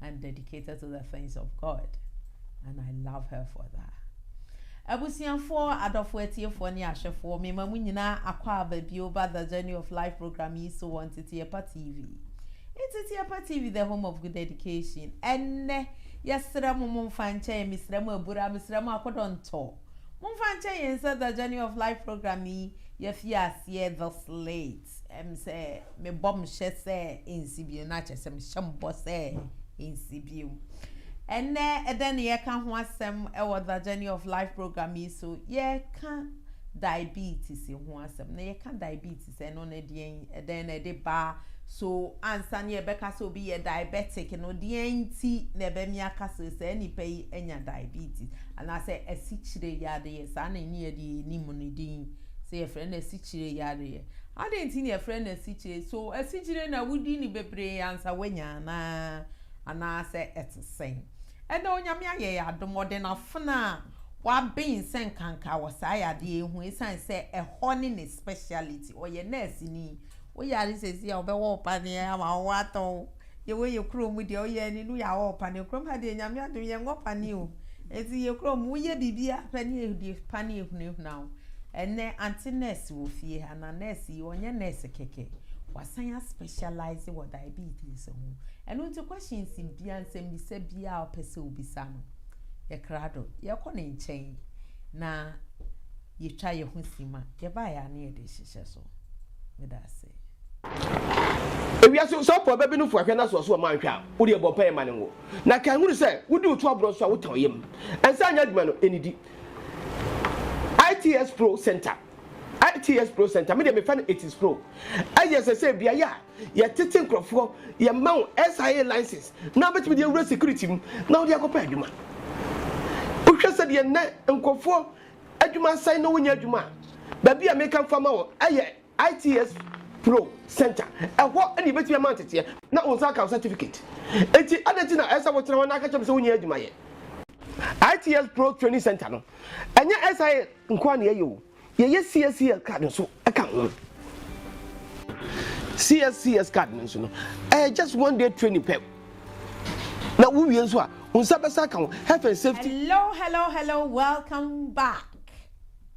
and dedicated to the things of God and I love her for that. Abusuafoɔ, adɔfoɔ atiefoɔ ne ahwɛfoɔ, mema mo nyinaa akɔ aba bio ba The Journey of Life program yi so wɔ Nteteɛpa TV. Nteteɛpa TV, the home of good education. Ɛnnɛ, yɛsrɛ mo momfa nkyɛ yɛn, mesrɛ mo abura, mesrɛ mo akodɔntɔ. Momfa nkyɛ yɛn sɛ The Journey of Life program yi, yɛafie aseɛ this late. M sɛ mebɔ m hyɛ sɛ nsi bio na kyɛ sɛ mehyɛ m bɔ sɛ nsi bio. Ɛnɛ ɛdɛn na yɛka ho asɛm ɛwɔ The Journey of Life program yi so? Yɛka diabetes ho asɛm na yɛka diabetes ɛno no deɛn ɛdɛn na ɛde ba so ansa na yɛbɛka sɛ obi yɛ diabetic no deɛn nti na ɛbɛmi aka sɛ saa nipa yi anya diabetes anaasɛ asikyire yadeɛ saa na ɛne yɛde yɛ nim no din sɛ yɛfrɛ no asikyire yareɛ. Adɛn nti na yɛfrɛ no asikyire? So asikyire na wodi no bebree ansa woanya anaa? Anaasɛ ɛte sɛn? Ɛnnɛ Onyame ayɛ yɛn adom, ɔde n'afena a waben sɛ nkanka wɔ saa yadeɛ yi ho ɛsiane sɛ ɛhɔ ne ne speciality, ɔyɛ nɛɛseni. Wo yare sɛsi a ɔbɛwɔ wo paneɛ ama wo atɔ wo. Yɛwɔ yɛ kuro mu deɛ woyɛ ani no yɛawɔ wo paneɛ. Kurom ha deɛ Nyame adom yɛnwɔ paneɛ o. Ɛti yɛ kuro mu woyɛ bibia paneɛ deɛ paneɛ ehunahuna wo. Ɛnɛ ante nurse wɔ fie ha na nurse yi ɔnyɛ nurse kɛkɛ. Wasan a specialize wɔ diabetes ho. Ɛno nti questions bia nsɛm bisa bia ɔpɛ sɛ obisa no yɛ krado. Yɛkɔ ne nkyɛn na yɛtwa yɛho sima. Yɛbaeɛ a na yɛde hyehyɛ so. Meda ase. Ewiase sɔpɔw bɛbe no fua hwɛ na sɛ ɔso ɔma nhwɛ a, wo deɛ bɔ mpaeɛ ma no nwo. Na kae hunu sɛ, wodi wo to aborɔ nso a, wotã wo yam. Nsa nyɛ adwuma no, nnidi. ITS Pro Center ITS Pro Center, me deɛ mefrɛ no Itis Pro, yɛ sɛ sɛ beaeɛ a yɛtete nkurɔfoɔ, yɛma wo SIA license na wobɛtumi de awura security mu na wode akɔpɛ adwuma. Wohwɛ sɛdeɛ nnɛ nkurɔfoɔ Adwuma sɛn na wonya adwuma a? Baabi a meka mfa ma wo yɛ ITS Pro Center. Ɛhɔ na yebetumi ama wo nteteɛ na wo nsa aka wo certificate. Enti adɛn nti na ɛsɛ sɛ wotena hɔ na aka kyerɛ me sɛ wunnya adwuma yɛ? ITS Pro Training Center no, ɛnyɛ SIA nko ara na yɛyɛ o, yɛyɛ CSCS card nso ka ho. CSCS card no nso no, ɛyɛ just one day training pɛ. Na wo wie nso a, wo nsa bɛsa aka ho. Health and safety. Hello hello hello welcome back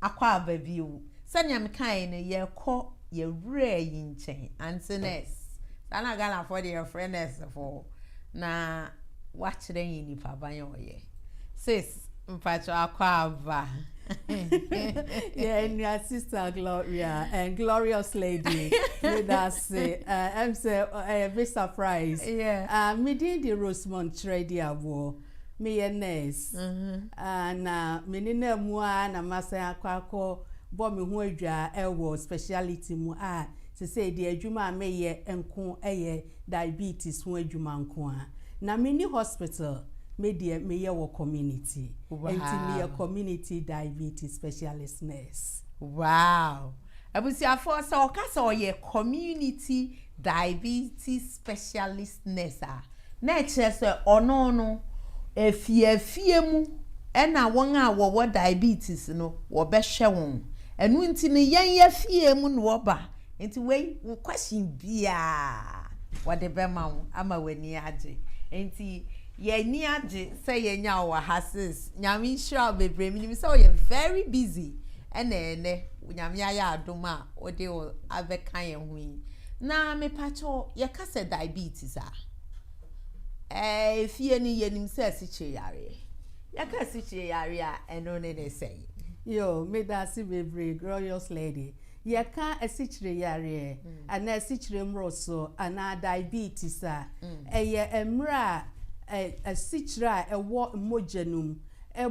akɔ aba bio sɛnea mekaeɛ no yɛkɔ yɛwura yi nkyɛn ante nurse saa na Ghanafoɔ deɛ yɛfrɛ nurse foɔ na wakyerɛ yɛn nipa ban a ɔyɛ sis Mpacho akɔ aba. Yeah, and your sister Gloria and glorious lady. With us, uh, I'm say uh, a big surprise. Yeah. Uh, me did the Rosemont trade award. Me ye nurse. Mm-hmm. Uh, na me ni na mua na masa akwako bɔ me ho adwa ɛwɔ speciality mu a sɛ sɛ de adwuma a meyɛ nko ɛyɛ diabetes ho adwuma nko ara na menni hospital me deɛ meyɛ wɔ community ɛnti meyɛ community diabetes specialist nurse. Wow! Abusuafoɔ sɛ ɔka sɛ ɔyɛ community diabetes specialist nurse a na ɛkyerɛ sɛ ɔno no afie afie mu ɛna wɔn a wɔwɔ diabetes no wɔbɛhwɛ wɔn ɛno nti no yɛn yɛfie mu na wɔba Enti wei, wo question biara wɔde bɛma wo ama w'ani agye. Enti yɛn ani agye sɛ yɛanya wo wɔ ha sis. Nyame nhyira wo bebree. Menim sɛ woyɛ very busy ɛna ɛnɛ Nyame ayɛ adom a wode wo abɛka yɛn ho yi. Na mepakyɛw yɛka sɛ diabetes a, ɛɛ fie no yɛnim sɛ asikyire yareɛ. Yɛka asikyire yareɛ a ɛno ne ne sɛn? Yo, meda ase bebree, glorious lady. Yɛka asikyire yareɛ anaa asikyire mmoroso anaa diabetes a, ɛyɛ mmerɛ a asikyire a ɛwɔ mogya no mu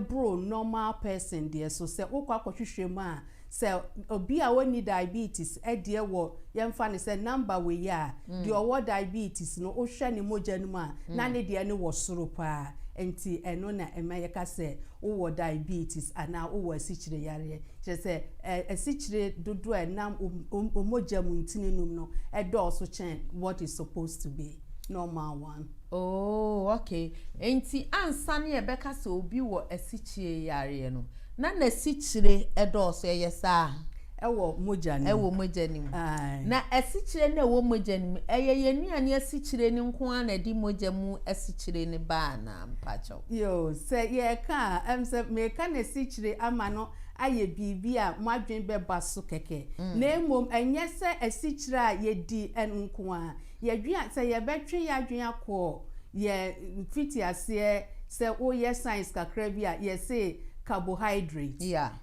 boro normal person deɛ so. Sɛ wokɔ akɔhwehwɛ mu a, sɛ obi a ɔnni diabetes deɛ wɔ, yɛmfa no sɛ number wei a, deɛ ɔwɔ diabetes no, wohwɛ ne mogya no mu a, na ne deɛ no wɔ soro pa ara. Nti ɛno na ɛma yɛka sɛ Wowɔ diabetes anaa wowɔ asikyire yareɛ, kyerɛ sɛ asikyire dodoɔ a ɛnam wo mogya mu ntini nom no dɔɔso kyɛn what is supposed to be normal one. Oh okay, enti ansa na yɛbɛka sɛ obi wɔ asikyire yareɛ no, na n'asikyire dɔɔso, ɛyɛ saa? Ɛwɔ mogya no mu. Ɛwɔ mogya no mu. Aye. Na asikyire no a ɛwɔ mogya no mu, ɛyɛ yɛn nnuane asikyire no nko ara na ɛde mogya mu asikyire no ba anaa? Mpakyɛw. Yoo, sɛ yɛreka a, ɛm sɛ mereka n'asikyire ama no ayɛ biribi a mo adwene bɛba so kɛkɛ. Na mmom, ɛnyɛ sɛ asikyire a yɛdi no nko ara. Yɛdwene a, sɛ yɛbɛtwe yɛn adwene akɔ yɛn mfitiaseɛ, sɛ woyɛ science kakra bi a, yɛse carbohydrate. Yeah.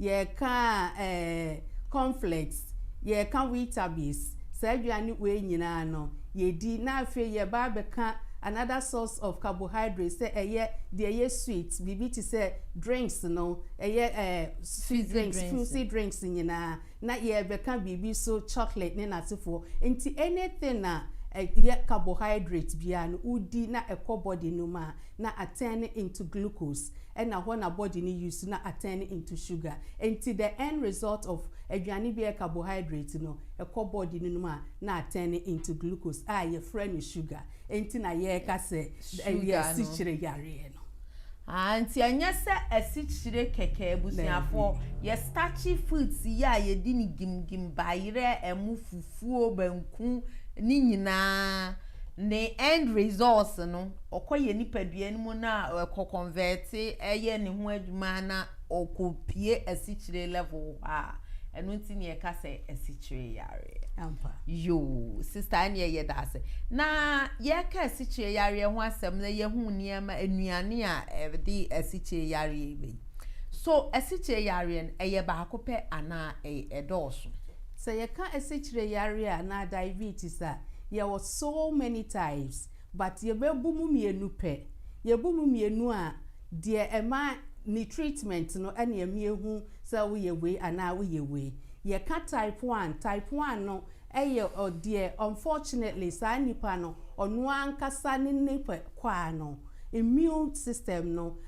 Yɛka eh, cornflakes, yɛka weetabix, saa aduane wei nyinaa no yɛdi na afei yɛba abɛka another source of carbohydrate sɛ ɛyɛ deɛ ɛyɛ sweet, biribi te sɛ drinks no, ɛyɛ eh, sweet drinks, fruity drinks nyinaa, na yɛrebɛka biribi so chocolate ne n'asefoɔ. Nti anything a ɛyɛ carbohydrate biara no wodi na ɛkɔ body no mu a, na a-turn no into glucose ɛna hɔ na body no use na a-turn no into sugar ɛnti the end result of aduane bi a ɛyɛ carbohydrate no ɛkɔ body no mu a na a-turn no into glucose a yɛfrɛ no sugar ɛnti na yɛka sɛ ɛyɛ asikyire yareɛ no. Aah nti ɛnyɛ sɛ asikyire kɛkɛ abusuafoɔ, yɛ starchy foods yi a yɛdi no gim gim, bayerɛ, ɛmo, fufuo, banku ne nyinaa ne end results no. ɔkɔ yɛn nipadua no mu na ɛkɔ kɔnvɛɛte ɛyɛ ne ho adwuma na ɔkɔ pie asikyire level hɔ a ɛno nti ne ɛka sɛ asikyire yareɛ. Ampa. Yoo, sista ɛne ɛyɛ da ase. Na yɛka asikyire yareɛ ho asɛm na yɛhu nneɛma nnuane a ɛde asikyire yareɛ bɛ yi. So asikyire yareɛ no ɛyɛ baako pɛ anaa ɛdɔɔso? Sɛ yɛka asikyire yareɛ anaa diabetes a yɛwɔ so many types. But yɛbɛbu mu mmienu pɛ. Yɛbu mu mmienu a, deɛ ɛma ne treatment no ɛne ɛmie hu sɛ woyɛ wei anaa woyɛ wei. Yɛka type one, type one no ɛyɛ ɔ deɛ unfortunately saa nipa no ɔno ankasa ne ne pɛ kwaa no immune system no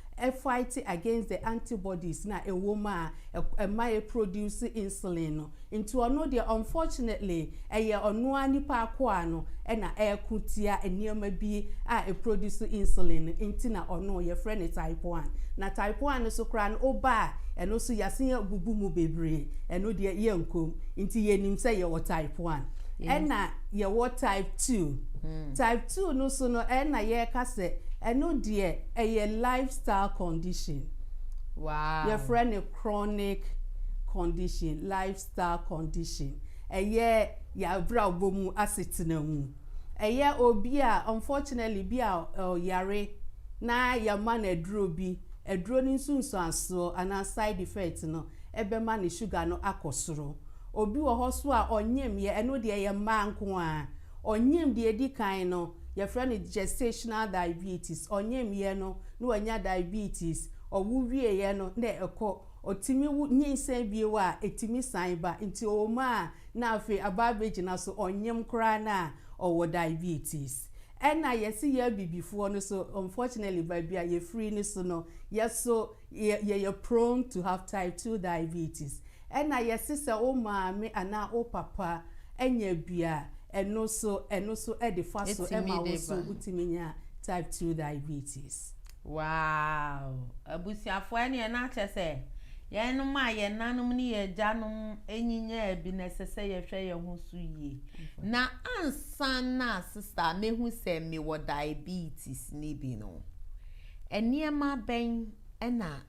fight against the antibodies no a ɛwɔ mu a ɛma yɛ produce insulin no. Nti ɔno deɛ unfortunately ɛyɛ ɔno ara nipa akoa no na ɛreko tia nneɛma bi a ɛproduce insulin no nti na ɔno yɛfrɛ no type one. Na type one no nso koraa no woba a ɛno nso yɛasen abubu mu bebree ɛno deɛ yɛnkɔ mu. Nti yɛnim sɛ yɛwɔ type one ɛna yɛwɔ type two. Type two no nso no ɛna yɛreka sɛ ɛno deɛ ɛyɛ lifestyle condition. Wow. Yɛfrɛ no. chronic condition, lifestyle condition, ɛyɛ y'abrabɔ mu asetena mu, ɛyɛ obi a unfortunately bi a ɔyare na yɛma no aduro bi, aduro no nsunsuansoɔ anaa side effect no ɛbɛma ne sugar no akɔ soro. Obi wɔ hɔ nso a ɔnyem yɛ, ɛno deɛ ɛyɛ mmaa nko ara, ɔnyem deɛ ɛdi kan no yɛfrɛ no gestational diabetes, ɔnyem yɛ no na wanya diabetes, Ɔwo wieɛ no na ɛkɔ. Ɔtumi wo nyinsɛn bio a, ɛtumi san ba. Nti ɔwom a na afei aba abɛgyina so, ɔnyem koraa no a, ɔwɔ diabetes. Ɛna yɛse yɛ Abibifoɔ no so, unfortunately baabi a yɛfiri no so no, yɛso yɛyɛ prone to have type two diabetes. Ɛna yɛse sɛ wo maame anaa wo papa anya bi a, ɛno so ɛno so ɛde fa so ɛma wo so wotumi nya type two diabetes. Wow! Abusuafoɔ ɛneɛ na kyɛ sɛ yɛnom a yɛn nanom ne yɛn agyanom nyinyaa bi no ɛsɛ sɛ yɛhwɛ yɛn ho so yie. Na ansa na sista a mɛhu sɛ me wɔ diabetes no bi no, nneɛma bɛn na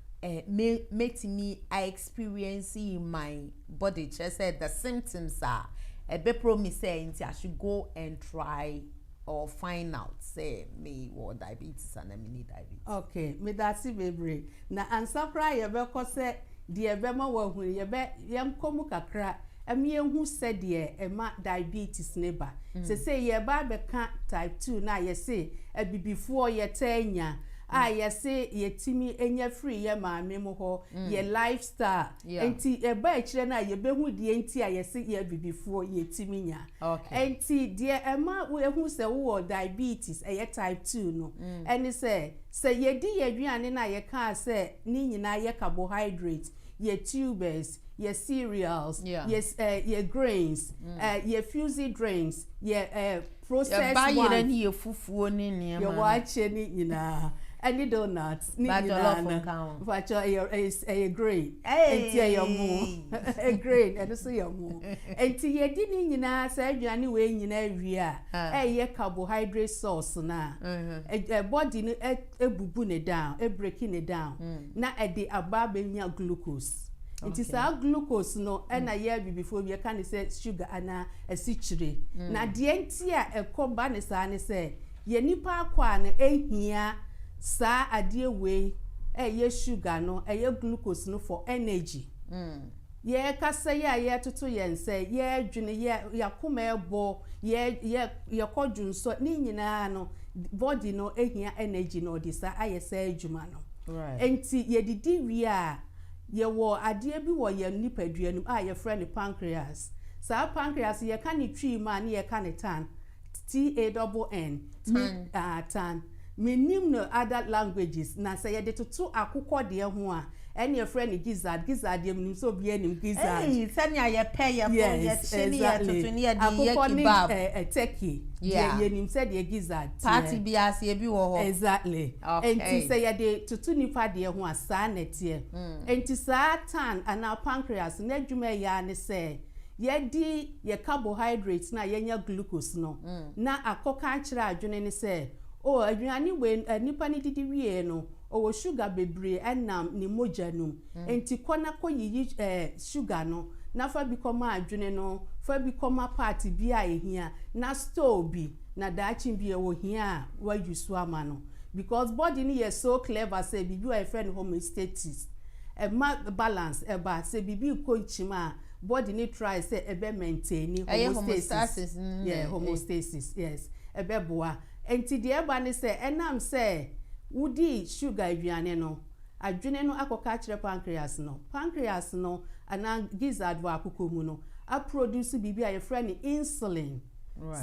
me mɛtumi a experience in my body kyerɛ sɛ the symptoms a ɛbɛ promise sɛ nti I should go and try or find out sɛ me wɔ diabetes anaa me ni diabetes. Ok medase bebree na ansa koraa yɛbɛkɔ sɛ deɛ ɛbɛma wahu no yɛbɛ yɛnkɔ mu kakra ɛma yɛhu sɛdeɛ ɛma diabetes no ba sesei yɛreba abɛka type two no a yɛse abibifoɔ yɛtaa nya a yɛse yɛtumi nya firi yɛ maame mo hɔ yɛ life style Enti yɛba akyire no a yɛbɛhu deɛ nti a yɛse yɛ abibifoɔ, yɛtumi nya. Enti deɛ ɛma yɛhu sɛ wowɔ diabetes, ɛyɛ type two no, ɛne sɛ, sɛ yɛdi yɛn aduane no a yɛkaa sɛ ne nyinaa yɛ carbohydrate, yɛ tubers, yɛ cereals, yɛ grains, yɛ fusy drinks, yɛ. processed ones. Yɛba yerɛ ne yɛ fufuo ne nneɛma no. Yɛwɔ akye ne nyinaa ɛne donuts ne nyinaa no. Ba jollof nka ho. Mpakyɛw ɛyɛ ɛyɛ ɛyɛ grain. Ɛyy. Nti ɛyɛ ɔmo. Grain ɛno nso yɛ ɔmo. Nti yɛdi ne nyinaa saa aduane wei nyinaa wie a ɛyɛ carbohydrate source no a body no ɛbubu ne down, ɛbreki ne down na ɛde aba abɛnya glucose. Nti saa glucose no na yɛ abibifoɔ bi yɛka no sɛ sugar anaa asikyire. Na deɛ nti a ɛkɔ ba no saa ne sɛ, yɛn nnipa akwaa no hia saa adeɛ wei, ɛyɛ sugar no, ɛyɛ glucose no for energy. Yɛrekasa yi a yɛretoto yɛn nsa yi, yɛredwene, yɛ, yɛn akoma rebɔ, yɛ, yɛ, yɛkɔ dwonsɔ, ne nyinaa no, body no hia energy na ɔde saa ayɛ saa adwuma no. Right. Nti yɛdidi wie a, yɛwɔ adeɛ bi wɔ yɛn nipadua no mu a yɛfrɛ no pancreas. Saa pancreas yi, yɛka ne twi mu a, ne yɛka ne tan. TANN, me, ah, tan. Mennim no other languages, na sɛ yɛde toto akokɔ deɛ ho a, ɛne yɛfrɛ no gizzard, gizzard deɛ menim sɛ obiara nim gizzard. Ei, sɛnea yɛpɛ, yɛbɔ, Yes, yɛkye ne exactly. yɛtoto ne yɛde yɛ Akokɔ ne kebab. ɛ, ɛ, turkey deɛ Yeah. yɛnim sɛdeɛ gizzard teɛ. Party biara ase ebi wɔ hɔ. Exactly. Enti Okay. sɛ yɛde toto nnipa deɛ ho a, saa na ɛteɛ. Enti saa tan anaa pancreas no, n'adwuma a ɛyɛ ara ne sɛ Yɛadi yɛn carbohydrates no a yɛanya glucose no na akɔka akyerɛ adwene no sɛ, Oh, aduane wei a nipa no didi wieeɛ no, ɔwɔ sugar bebree ɛnam ne mogya no mu. Enti kɔ na kɔyiyi eh, sugar no na fa bi kɔma adwene no, fa bi kɔma part bi a ɛhia, na store bi, na daakye biara ɔhia a, wa use ama no. Because body no yɛ so clever sɛ biribi wɔ hɔ a yɛfrɛ no homeostatis, ɛma balance ɛba. Sɛ biribi rekɔ nkyim a, Body no try sɛ ɛbɛ maintaini homostasis, yeah, homostasis, yes, ɛbɛ boa. Nti deɛ ɛba ne sɛ, ɛnam sɛ wodi sugar aduane no, adwene no akɔ ka akyerɛ pancreas no, pancreas no anaa gizzard wɔ akoko mu no aproduce biribi a yɛfrɛ no insulin,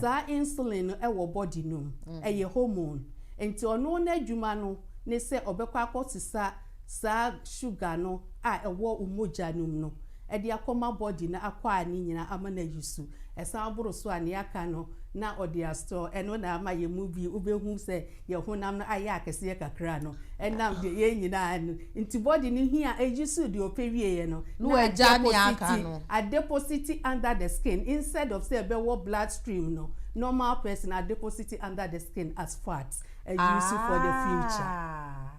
saa insulin no ɛwɔ body no mu, ɛyɛ hormone, nti ɔno n'adwuma no ne sɛ ɔbɛkɔ akɔ sesa saa sugar no a ɛwɔ wo mogya no mu no de akɔma body no akɔ a ne nyinaa ama no ayi su. Ɛsan boro so a, nea aka no na ɔde astore. Ɛno na ama yɛn mu bi wobɛhu sɛ yɛn honam no ayɛ akɛseɛ kakra no ɛnam deɛ yɛn nyinaa no nti. Body no hia ɛyi su deɛ ɔpɛ wieɛ no na adepositi adepositi under the skin instead of sɛ ɛbɛwɔ blood stream no normal person adepositi under the skin as fats ayi su for the future.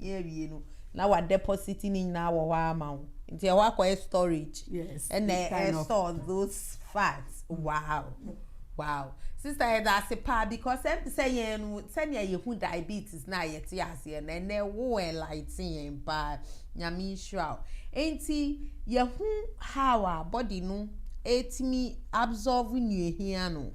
yɛ awie no na wa deposit ne nyinaa wɔ hɔ ara ma wo nti ɛhɔ akɔyɛ storage ɛna ɛ store those facts wow wow sister yɛda ase paa because ɛm sɛ yɛn no sɛnea yɛhu diabetes na yɛte aseɛ na ɛnɛ wo enlighten yɛn paa nyame nhyira wo nti yɛhu how a body no ɛtumi absorb nnuahia no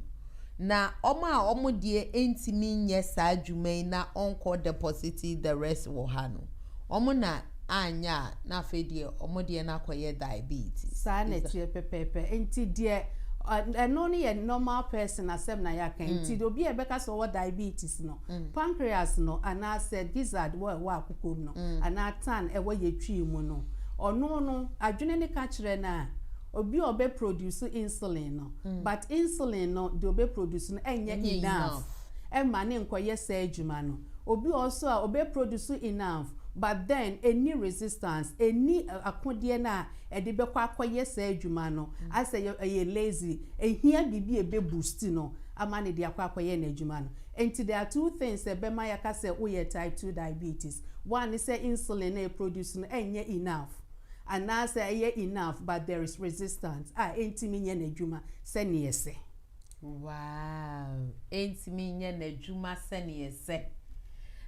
na wɔn a wɔn deɛ ntumi nyɛ saa dwuma yi na wɔnkɔ deposite the rest wɔ ha no, wɔn na anyɛ a na afei deɛ wɔn deɛ no akɔyɛ diabetes. Saa na ɛteɛ pɛpɛɛpɛ. Nti deɛ ɛno no yɛ normal person asɛm na yɛaka yi. Nti obi a ɛbɛka sɛ ɔwɔ diabetes no, pancreas no anaasɛ gizzard wɔ ɛwɔ akoko mu no anaa tan ɛwɔ yetwii mu no, ɔno no adwene no ka kyerɛ no a, obi a ɔbɛ produce insulin no but insulin no deɛ ɔbɛ produce no ɛnyɛ enough ɛma ne nkɔ yɛ saa adwuma no obi ɔwɔ so a ɔbɛ produce enough but then ɛnni resistance ɛnni akodeɛ no a ɛde bɛkɔ akɔ yɛ saa adwuma no ayɛ sɛ ɛyɛ lazy ɛhia biribi a ɛbɛ boost no ama no de akɔ akɔ yɛ n'adwuma no nti there are two things a ɛbɛma yɛaka sɛ wo yɛ type two diabetes one ne sɛ insulin no a ɛproduce no ɛnyɛ enough. anaasɛ ɛyɛ enough but there is resistance a ɛntumi nyɛ n'adwuma sɛdeɛ ɛsɛ. Wow! Ɛntumi nyɛ n'adwuma sɛdeɛ ɛsɛ.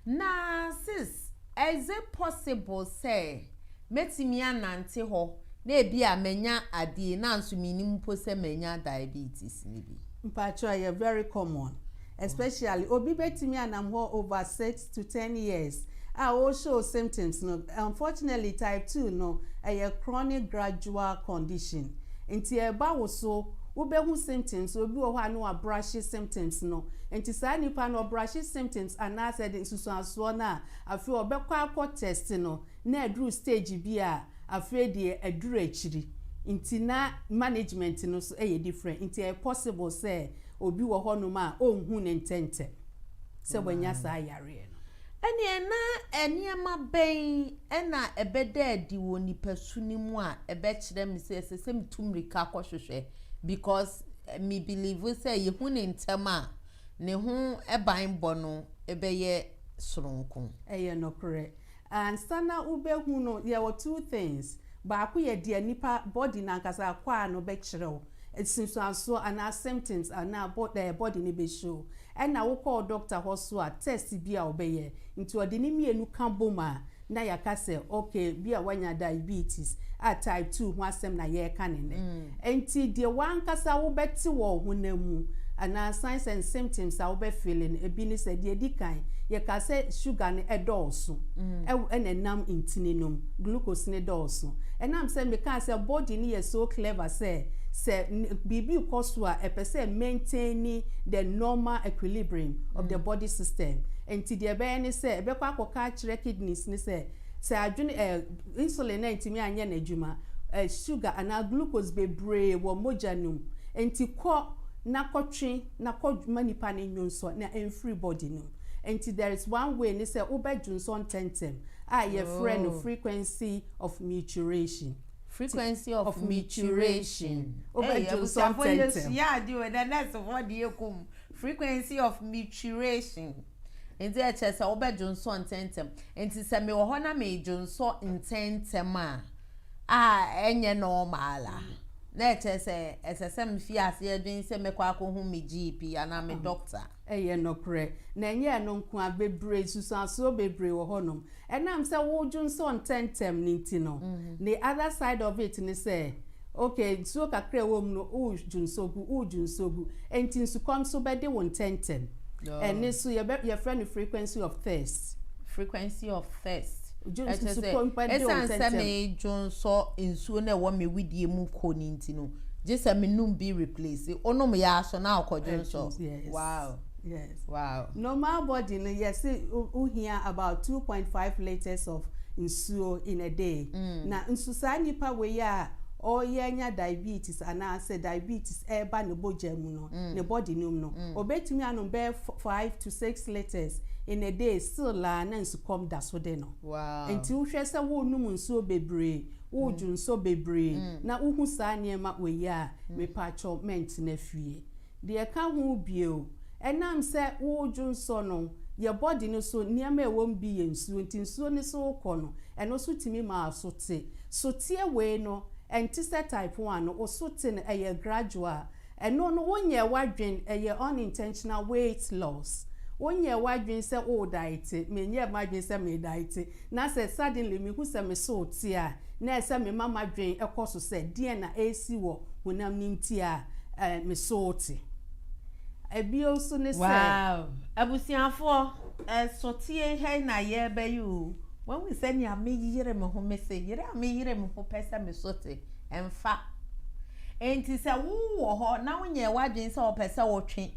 Na sis, is it possible sɛ mɛtumi anante hɔ na ebia manya adeɛ yi nanso mennim mpo sɛ manya diabetes no bi? Mpakyɛw, ɛyɛ very common. Especially obi bɛtumi anam hɔ over six to ten years a ɔɔ show symptoms no, unfortunately type two no ɛyɛ chronic gradual condition nti ɛɛba wo so wo bɛhu symptoms, obi wɔ hɔ a na wa brushe symptoms no nti saa nipa no ɔbrushe symptoms anaasɛ de nsusuansoɔ no a afei ɔbɛkɔ akɔ test no na aduru stage bi a afei deɛ aduru akyiri nti na management no nso yɛ different nti ɛyɛ possible sɛ Obi wɔ hɔnom a onhu no ntɛmntɛm sɛ wanya saa yareɛ no. Ɛnneɛ na nneɛma bɛn na ɛbɛda adi wɔ nipasu no mu a ɛbɛkyerɛ me sɛ ɛsɛ sɛ metu mmirika kɔhwehwɛ? Because me believe sɛ yɛhu no ntɛm a, ne ho banbɔ no bɛyɛ sononko. Ɛyɛ nokorɛ. Ansa na wobɛhu no, yɛwɔ two things, baako yɛ deɛ nipa body no ankasa, akwaa no, bɛkyerɛ wo, nsunsuansoɔ anaa symptoms anaa bɔ ɛɛ body no bɛ show, ɛna wo kɔ wo doctor hɔ nso a, test bi a ɔbɛyɛ, nti ɔde ne mmienu ka bom a, na yɛaka sɛ okay, bi a woanya diabetes a type two ho asɛm na yɛreka no nnɛ. Ntsi deɛ wankasa wobɛtse wɔ honam mu, anaa san sɛ nsymptoms a wobɛfeele no, bi ne sɛ, deɛ edi kan, yɛkaa sɛ sugar no dɔɔso wɔ na nam ntini no mu, glucose no dɔɔso. Ɛnam sɛ mekaa sɛ body no yɛ so clever sɛ, sɛ biribi rekɔ so a, ɛpɛ sɛ ɛmaintaini the normal equilibrium of the body system. Ntsi deɛ ɛbɛyɛ ne sɛ, ɛbɛkɔ akɔka akyerɛ kidneys no sɛ, Sɛ adwene, eh, insulin antumi anyɛ n'adwuma, eh, sugar anaa glucose bebree wɔ mogya no mu, enti kɔ na kɔtwe na kɔ ma nipa no nnwonsɔ na ɛmfiri body no mu. Enti there is one way ne sɛ wobɛdwonsɔ ntɛntɛm a yɛfrɛ no frequency of mituration. Frequency of of mituration. Ei, Wobɛdwonsɔ abusuafoɔ ntɛntɛm. yɛsua adeɛ o, ɛnɛ nɛɛsefoɔ deɛ ɛkɔ mu. Frequency of mituration. Enti ɛkyerɛ sɛ wobɛdwonsɔ ntɛmntɛm. Enti sɛ mewɔ hɔ na medwonsɔ ntɛmntɛm a, a ɛnyɛ normal a, na ɛkyerɛ sɛ ɛsɛ sɛ mefi aseɛ dwen sɛ mɛkɔ akɔhu me GP anaa me dɔkta. Ɛyɛ nokorɛ. Na ɛnyɛ ɛno nko ara, bebree, nsusuansoɔ bebree wɔ hɔnom. Ɛnam sɛ wodwo nsɔ ntɛmntɛm no nti no, the other side of it ne sɛ, ok, nsuo kakra a ɛwɔ mu no, wodwo nsɔ gu, wodwo nsɔ gu, ɛnti nsukɔm nso bɛde wo ntɛmntɛm. Ɛno nso yɛbɛ, yɛfrɛ no frequency of thirst. Frequency of thirst. Dwo, Ɛkyerɛ sɛ, nsukɔm bɛde wo ntɛmntɛm. ɛsiane sɛ medwo nsɔ nsuo no a ɛwɔ me wedeɛ mu kɔ no nti no, gye sɛ menom bi replace. Wonom yɛ ara so na wokɔdwo nsɔ. Ɛdwo, yes. Wow. Yes. Wow. Normal body no yɛse wohia about two point five litres of nsuo in a day. Mm. Na nso saa nipa wei a ɔyɛ nya diabetes anaasɛ diabetes ɛreba ne bogya mu no mm. ne body no mu no mm. obetumi anom bɛyɛ five to six litres in a day still la na nsukɔm da so de no. Wow. Nti wohwɛ sɛ wonom nsuo bebree wodwo mm. nsuo bebree mm. na wohu saa nneɛma wei a mm. mepatwɔ mɛntena fie. Deɛ ɛka ho bio, ɛnam sɛ woredwo nsɔ no, yɛn bɔde no so nneɛma a ɛwɔ mu bi yɛ nsuo nti nsuo no so rekɔ no, ɛno nso tumi ma aso te. Soteɛ wei no, ɛnte sɛ type one no, wo so te no, ɛyɛ gradual. Ɛno no, wonyɛɛ w'adwene, ɛyɛ unintentional weight loss. Wonyɛɛ w'adwene sɛ worediete, menyɛɛ m'adwene sɛ meediete. Na sɛ suddenly mihu sɛ me so reteɛ a, na ɛsɛ mema m'adwen kɔ so sɛ deɛn na ɛresi wɔ honam no nti a me so reteɛ. Bio nso ne sɛ. Wow! Abusuafoɔ, ɛso teɛ hɛn na yɛrebɛyɛ o! Moahu sɛnea meyere me ho, mese yere a meyere me ho pɛ sɛ me so te. Ɛmfa. Enti sɛ wowɔ hɔ na wonyɛɛ w'adwene sɛ wopɛ sɛ wotwe,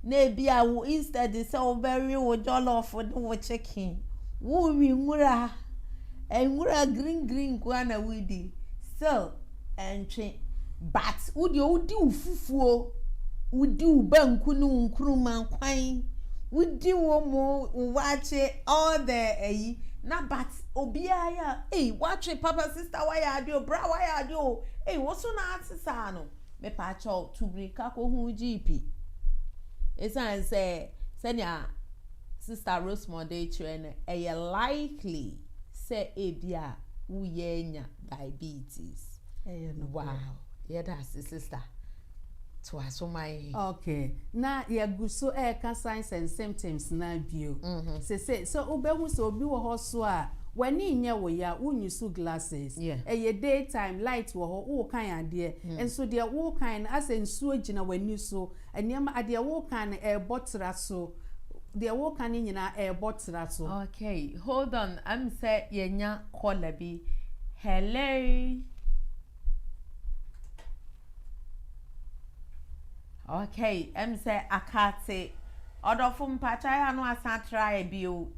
na ebia wo instead sɛ wobɛwe wo jollof ne wo chicken, worewe nwura, nwura green green nko ara na woredi, still ɛntwe. But wo deɛ wodi wo fufuo, wodi wo banku ne wo nkuruma kwan, wodi wo mo, wo waakye, all the ayi, na but obiara yɛ a, ei, woatwe papa sisi. sister wayɛ ade o bra wayɛ ade o ei woso na ase saa no mepakyɛw tu mirika kɔ hu wo gyeepi esiane sɛ sɛnea sister Rosemond de kyerɛ no ɛyɛ likely sɛ ebi a woyɛ anya diabetes wow yɛda ase sister toa so ma yɛn. Okay, na yɛagu so reka signs and symptoms no ara bio. Seesei, sɛ wobɛhu sɛ obi wɔ hɔ so a, w'ani nyɛ wo ya, wonyusu glasses, ɛyɛ day time, light wɔ hɔ, worekan adeɛ, nso deɛ worekan no asɛ nsuo gyina w'ani so, nneɛma, deɛ worekan no ɛrebɔ tra so, deɛ worekan no nyinaa ɛrebɔ tra so. Okay, hold on, ɛm sɛ yɛanya caller bi. Hello. Okay, ɛm sɛ akate ɔdɔfo mpakyɛ ayɛ ano asan atra ayɛ bio.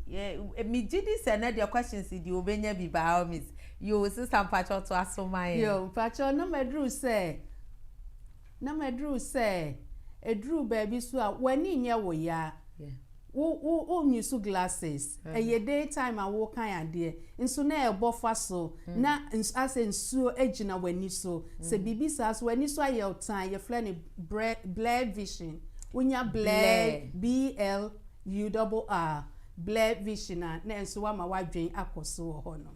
Me gye di sɛ na deɛ questions deɛ obenya bi by all means. Yo, sista mpakyɛ ɔto aso ma yɛn. Yo, mpakyɛ na maduru sɛ, na maduru sɛ, ɛduru baabi so a, w'ani nyɛ wo ya. Yeah. wo wo wo use glasses ɛyɛ day time a wokan adeɛ nso na ɛbɔ fa so na nsu asɛ nsuo agyina w'ani so sɛ biribi saa so w'ani so ayɛ wo tan yɛfrɛ no brɛ blurred vision wonya blurred BLURR blurred vision a na ɛnso wama w'adwen akɔ so wɔ hɔ nom.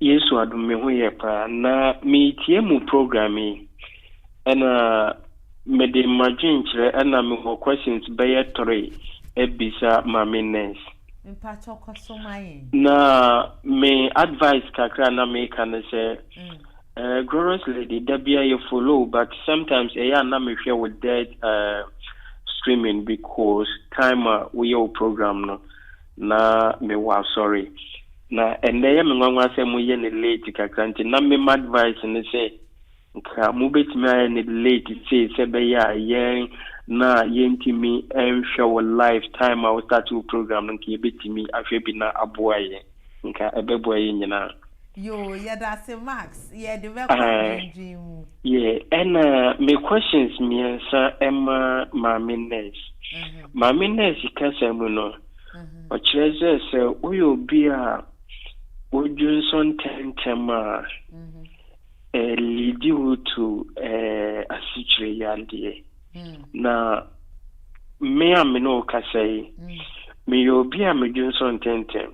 Yesu adom me ho yɛ paa. Na meretie mo program yi ɛna mede m'adwenkyerɛ ɛna mewɔ questions bɛyɛ three abisa Maame Nurse. Mpakyɛ kɔ so ma yɛn. Na me advice kakra a na meka ne sɛ eh, Glorious Lady da biara yɛ follow wo but sometimes ɛyɛ a na mehwɛ wo dead eh, streaming because time a woyɛ wo program no Na me wɔ asɔre na ɛnɛ yɛ me nwanwa sɛ mo yɛ no late kakra nti na me m'advice ne sɛ nka mo bɛtumi ayɛ no late sei sɛ bɛyɛ a yɛn na yɛntumi nhwɛ wo live time a wo start wo program no nka yɛbɛtumi ahwɛ bi na aboa yɛn nka ɛbɛboa yɛn nyinaa. Yoo yɛdase Max yɛde bɛkɔ adwendwen mu. Yeah ɛna me questions mmiɛnsa ɛma maame nurse. Maame nurse kasa mu no ɔkyerɛ sɛ sɛ woyɛ obi a wodwonsɔ ntɛntɛm a ɛ leadi wo to ɛ asikyire yadeɛ. Na me a me ne wo kasa yi, meyɛ obi a medwonsɔ ntɛntɛm.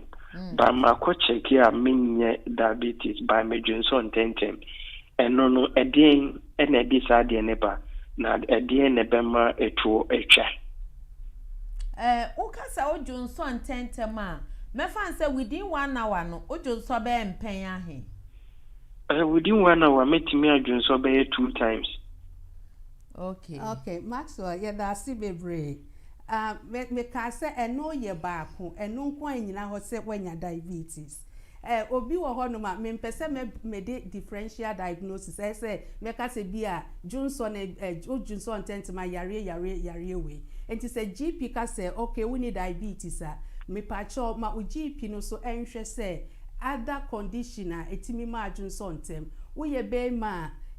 Ba makɔ kyɛke a menyɛ diabetes ba medwonsɔ ntɛntɛm. Ɛno no, ɛdeɛn na ɛde saa adeɛ no ba? Na ɛdeɛn na ɛbɛma ɛtoɔ atwa? Eh, woka sɛ wodwonsɔ ntɛntɛm a, mɛfa no sɛ within one hour no, wodwonsɔ bɛyɛ mpɛn ahe? Eh, within one hour, mɛtumi adwonsɔ bɛyɛ two times. Okay. Okay, Maxwell, yɛda ase bebree. Ah, me, mekaa sɛ ɛno yɛ baako, ɛno nko ara nnyina hɔ sɛ woanya diabetes. Eh, obi wɔ hɔnom a, mempɛ sɛ mɛ, mede differential diagnosis, ɛyɛ sɛ mɛka sɛ bi a dwonsɔ ne, eh, wodwonsɔ ntɛntɛma yareɛ, yareɛ, yareɛ wei. Enti sɛ GP ka sɛ, okay, wonni diabetes a, mepakyɛw, ma wo GP no nso nhwɛ sɛ, Ada condition a ɛtumi ma adwene sɔ ntɛm. Woyɛ barima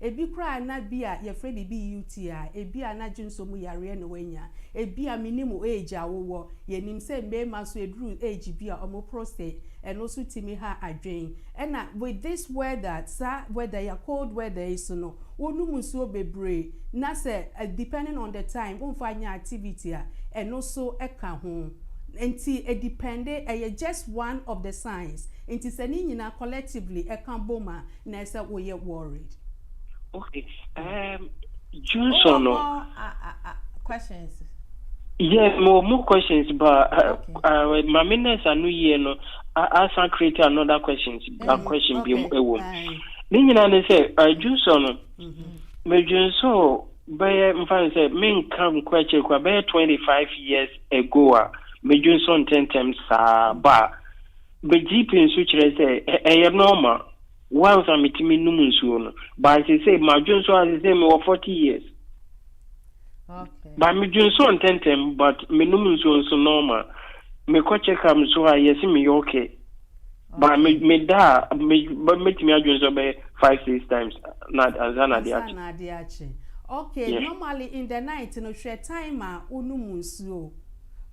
a, ɛbi koraa na bi a yɛfrɛ biribi UTI, ɛbi a na adwene sɔ mu yareɛ na wanya. Ɛbi a menim wo age a wowɔ, yɛnim sɛ mmarima nso ɛduru age bi a wɔn prostate, ɛno nso tumi ha adwene. Ɛna with this weather, saa weather yi a, cold weather yi so no, wonom nsuo bebree na sɛ depending on the time womfa nyɛ activity a, ɛno nso ka ho. Nti e depende, ɛyɛ just one of the signs. Nti sɛ ne nyinaa collectively ɛka bom a, na ɛsɛ woyɛ worried. Ok, ehm Junso no. Wowɔ more questions? Yes, mewɔ more questions but Mame Nurse ano yie no asan create another questions, a question biom ɛwom. Ne nyinaa ne sɛ Junso no, medwensoo. Bɛyɛ mfa no sɛ menka nkorakyire koraa bɛyɛ twenty five years ago a medwo nso ntɛntɛm saa ba a bɛ gyipii nso kyerɛ sɛ ɛyɛ normal once a metumi nom nsuo no but sesei madwo nso a sesei mewɔ forty years but medwo nso ntɛntɛm but menom nsuo nso normal mekɔ check up nso a yɛse meyɛ okay. Ba me me da a me ba mɛtumi adwene sɛ ɔbɛyɛ five six times na ansa na adeɛ akye. Ansa na adeɛ akye. Okay yeah. normally in the night no hwɛ time a wonum nsuo.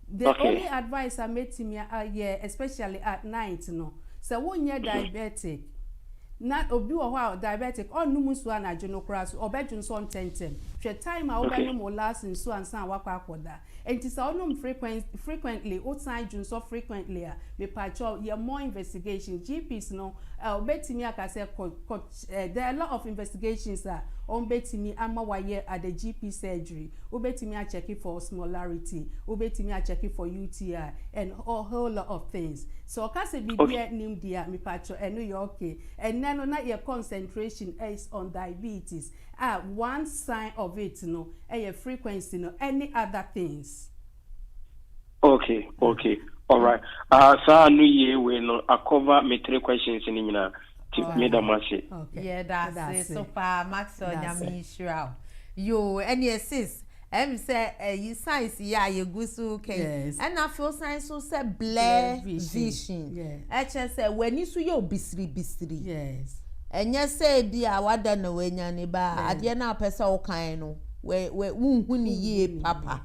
The okay. only advice a mɛtumi ayɛ especially at night no sɛ wonyɛ mhm. diabetic na obi wɔ hɔ a diabetic ɔnnum nsuo anadwo no koraa so ɔbɛdwene so ɔntɛntɛm hwɛ time a wobɛnom wo last nsuo ansa a wakɔ akɔda. Enti sɛ wonom frequent frequently wosan dwo nsɔ frequently a mepakyɛw yɛ more investigation GPs no eh wobɛtumi aka sɛ kɔ kɔ eh there are lot of investigations a wɔbɛtumi ama wayɛ at the GP surgery wobɛtumi akyɛke for osmolarity wobɛtumi akyɛke for UTI and a whole lot of things sɛ ɔka sɛ biribi a nnim deɛ a mepakyɛw ɛno yɛ okay ɛnnɛ no na yɛ concentration is on diabetes a one sign of it no yɛ frequency no ɛne other things. Okay okay alright ah saa no yie wei no a cover me three questions no nyinaa ti me da mo ase. Yɛda ase so paa Maxwell Nyame nhyira wo yoo ɛneɛ sis. Ɛm sɛ ɛyi science yi a yɛgu so reka yi, ɛna afei ɔsan nso sɛ blur vision. Ɛkyerɛ sɛ w'ani so yɛ obisiribisiri. Ɛnyɛ sɛ ebi a wada na wanya ne ba a, adeɛ no a wopɛ sɛ wokan no, wonhu ne yie papa.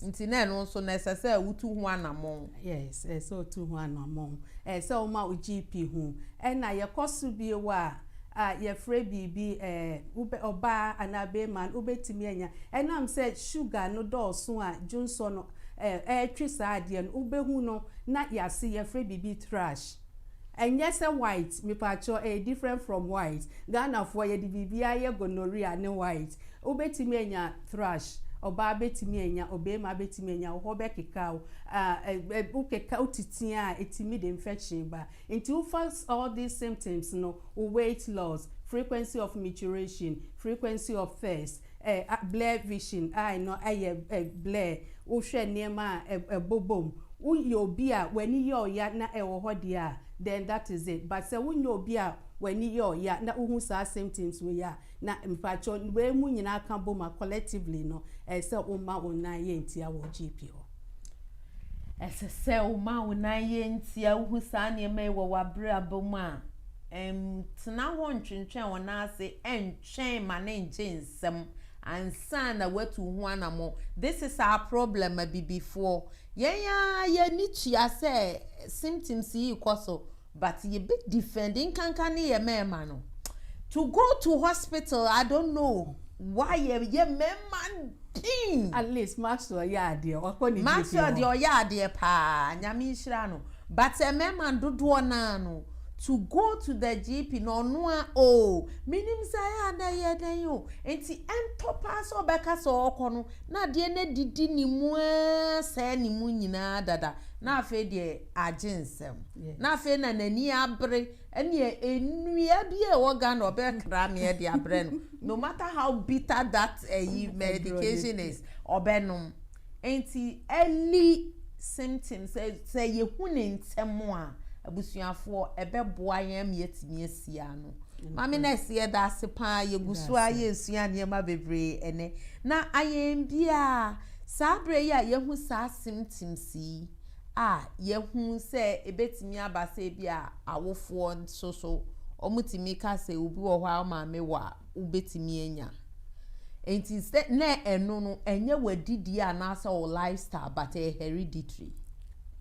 Nti na ɛno nso no ɛsɛ sɛ wotu ho anammɔn. Yes, ɛsɛ sɛ wotu ho anammɔn. Ɛsɛ sɛ woma wo GP hu. Ɛna yɛkɔ so bio a, a yɛfrɛ biribi ɛɛ, wobɛ, ɔbaa anaa beema no, wobɛtumi anya. Ɛnam sɛ sugar no dɔɔso a dwonsɔ no ɛɛ, ɛretwe saa adeɛ no, wobɛhu no na yɛase, yɛfrɛ biribi thrush. Ɛnyɛ sɛ white, mepaakyɛw, ɛyɛ different from white. Ghanafoɔ, yɛde biribiara yɛ gonorrhea ne white. Wobɛtumi anya thrush, ɔbaa bɛtumi anya, obeema bɛtumi anya, wo hɔ bɛkeka wo, ɛɛ, ɛ, ɛ, wokeka, wotitia a, ɛtumi de infection ba. Nti wofa all these symptoms no, wo weight loss, frequency of mituration, frequency of thirst, eh, blur vision, eye no ayɛ eh, blur, wohwɛ nneɛma a eh, ɛbobɔ mu, woyɛ obi a w'ani yɛ wo ya na ɛwɔ hɔ deɛ a, then that is it. But sɛ wonyɛ obi a w'ani yɛ wo ya na wohu saa symptoms wei a, Na mpakyɛw wei mu nyinaa ka bom a collectively no ɛyɛ sɛ wo ma wo nan yɛ ntia wɔ GP hɔ. Ɛsɛ sɛ wo ma wo nan yɛ ntia, wo hu saa nneɛma yi wɔ w'abrabɔ mu a, ntena hɔ ntwentwɛn wo nan ase, ntwɛn ma no ngye nsam ansa na watu wo ho anamɔn. This is our problem Abibifoɔ, yɛn ara yɛn ani tua sɛ symptoms yi rekɔ so. But yɛ bɛ defend nkanka ne yɛ mɛɛma no to go to hospital I don't know why yɛ yɛ mɛɛma den. At least Maxwell yɛ adeɛ wakɔ ne gyefie hɔ. Maxwell deɛ ɔyɛ adeɛ paa nyame nhyira no but mɛɛma dodoɔ naa no to go to the GP no ɔno a oo me nim sɛ ayɛ a na ɛyɛ dɛn o nti ɛntɔ paa sɛ ɔbɛka sɛ ɔɔkɔ no na adeɛ no adidi ne mu aa sɛɛ ne mu nyinaa dada na afei deɛ agye nsɛm. na afei na n'ani abere ɛneɛ nnua bi a ɛwɔ Ghana ɔbɛkra meɛ de abrɛ no no matter how bitter that ɛyi eh, medication is ɔbɛnom nti early symptoms sɛ sɛ yɛhu ne ntɛm a abusuafoɔ ɛbɛboa yɛn ama yɛatumi asi ano maame na ɛsɛ yɛda ase paa yɛgu so a yɛresua nneɛma bebree ɛnɛ na ayɛn biara saa berɛ yi a yɛhu saa symptoms yi a yɛahu sɛ ebetumi aba sɛ ebi a awofoɔ nso so wɔtumi ka sɛ obi wɔ hɔ a ɔmaame wɔ a wobɛtumi anya nti sɛ na ɛno no ɛnyɛ w'adidie anaasɛ wo lifestyle but ɛyɛ hereditary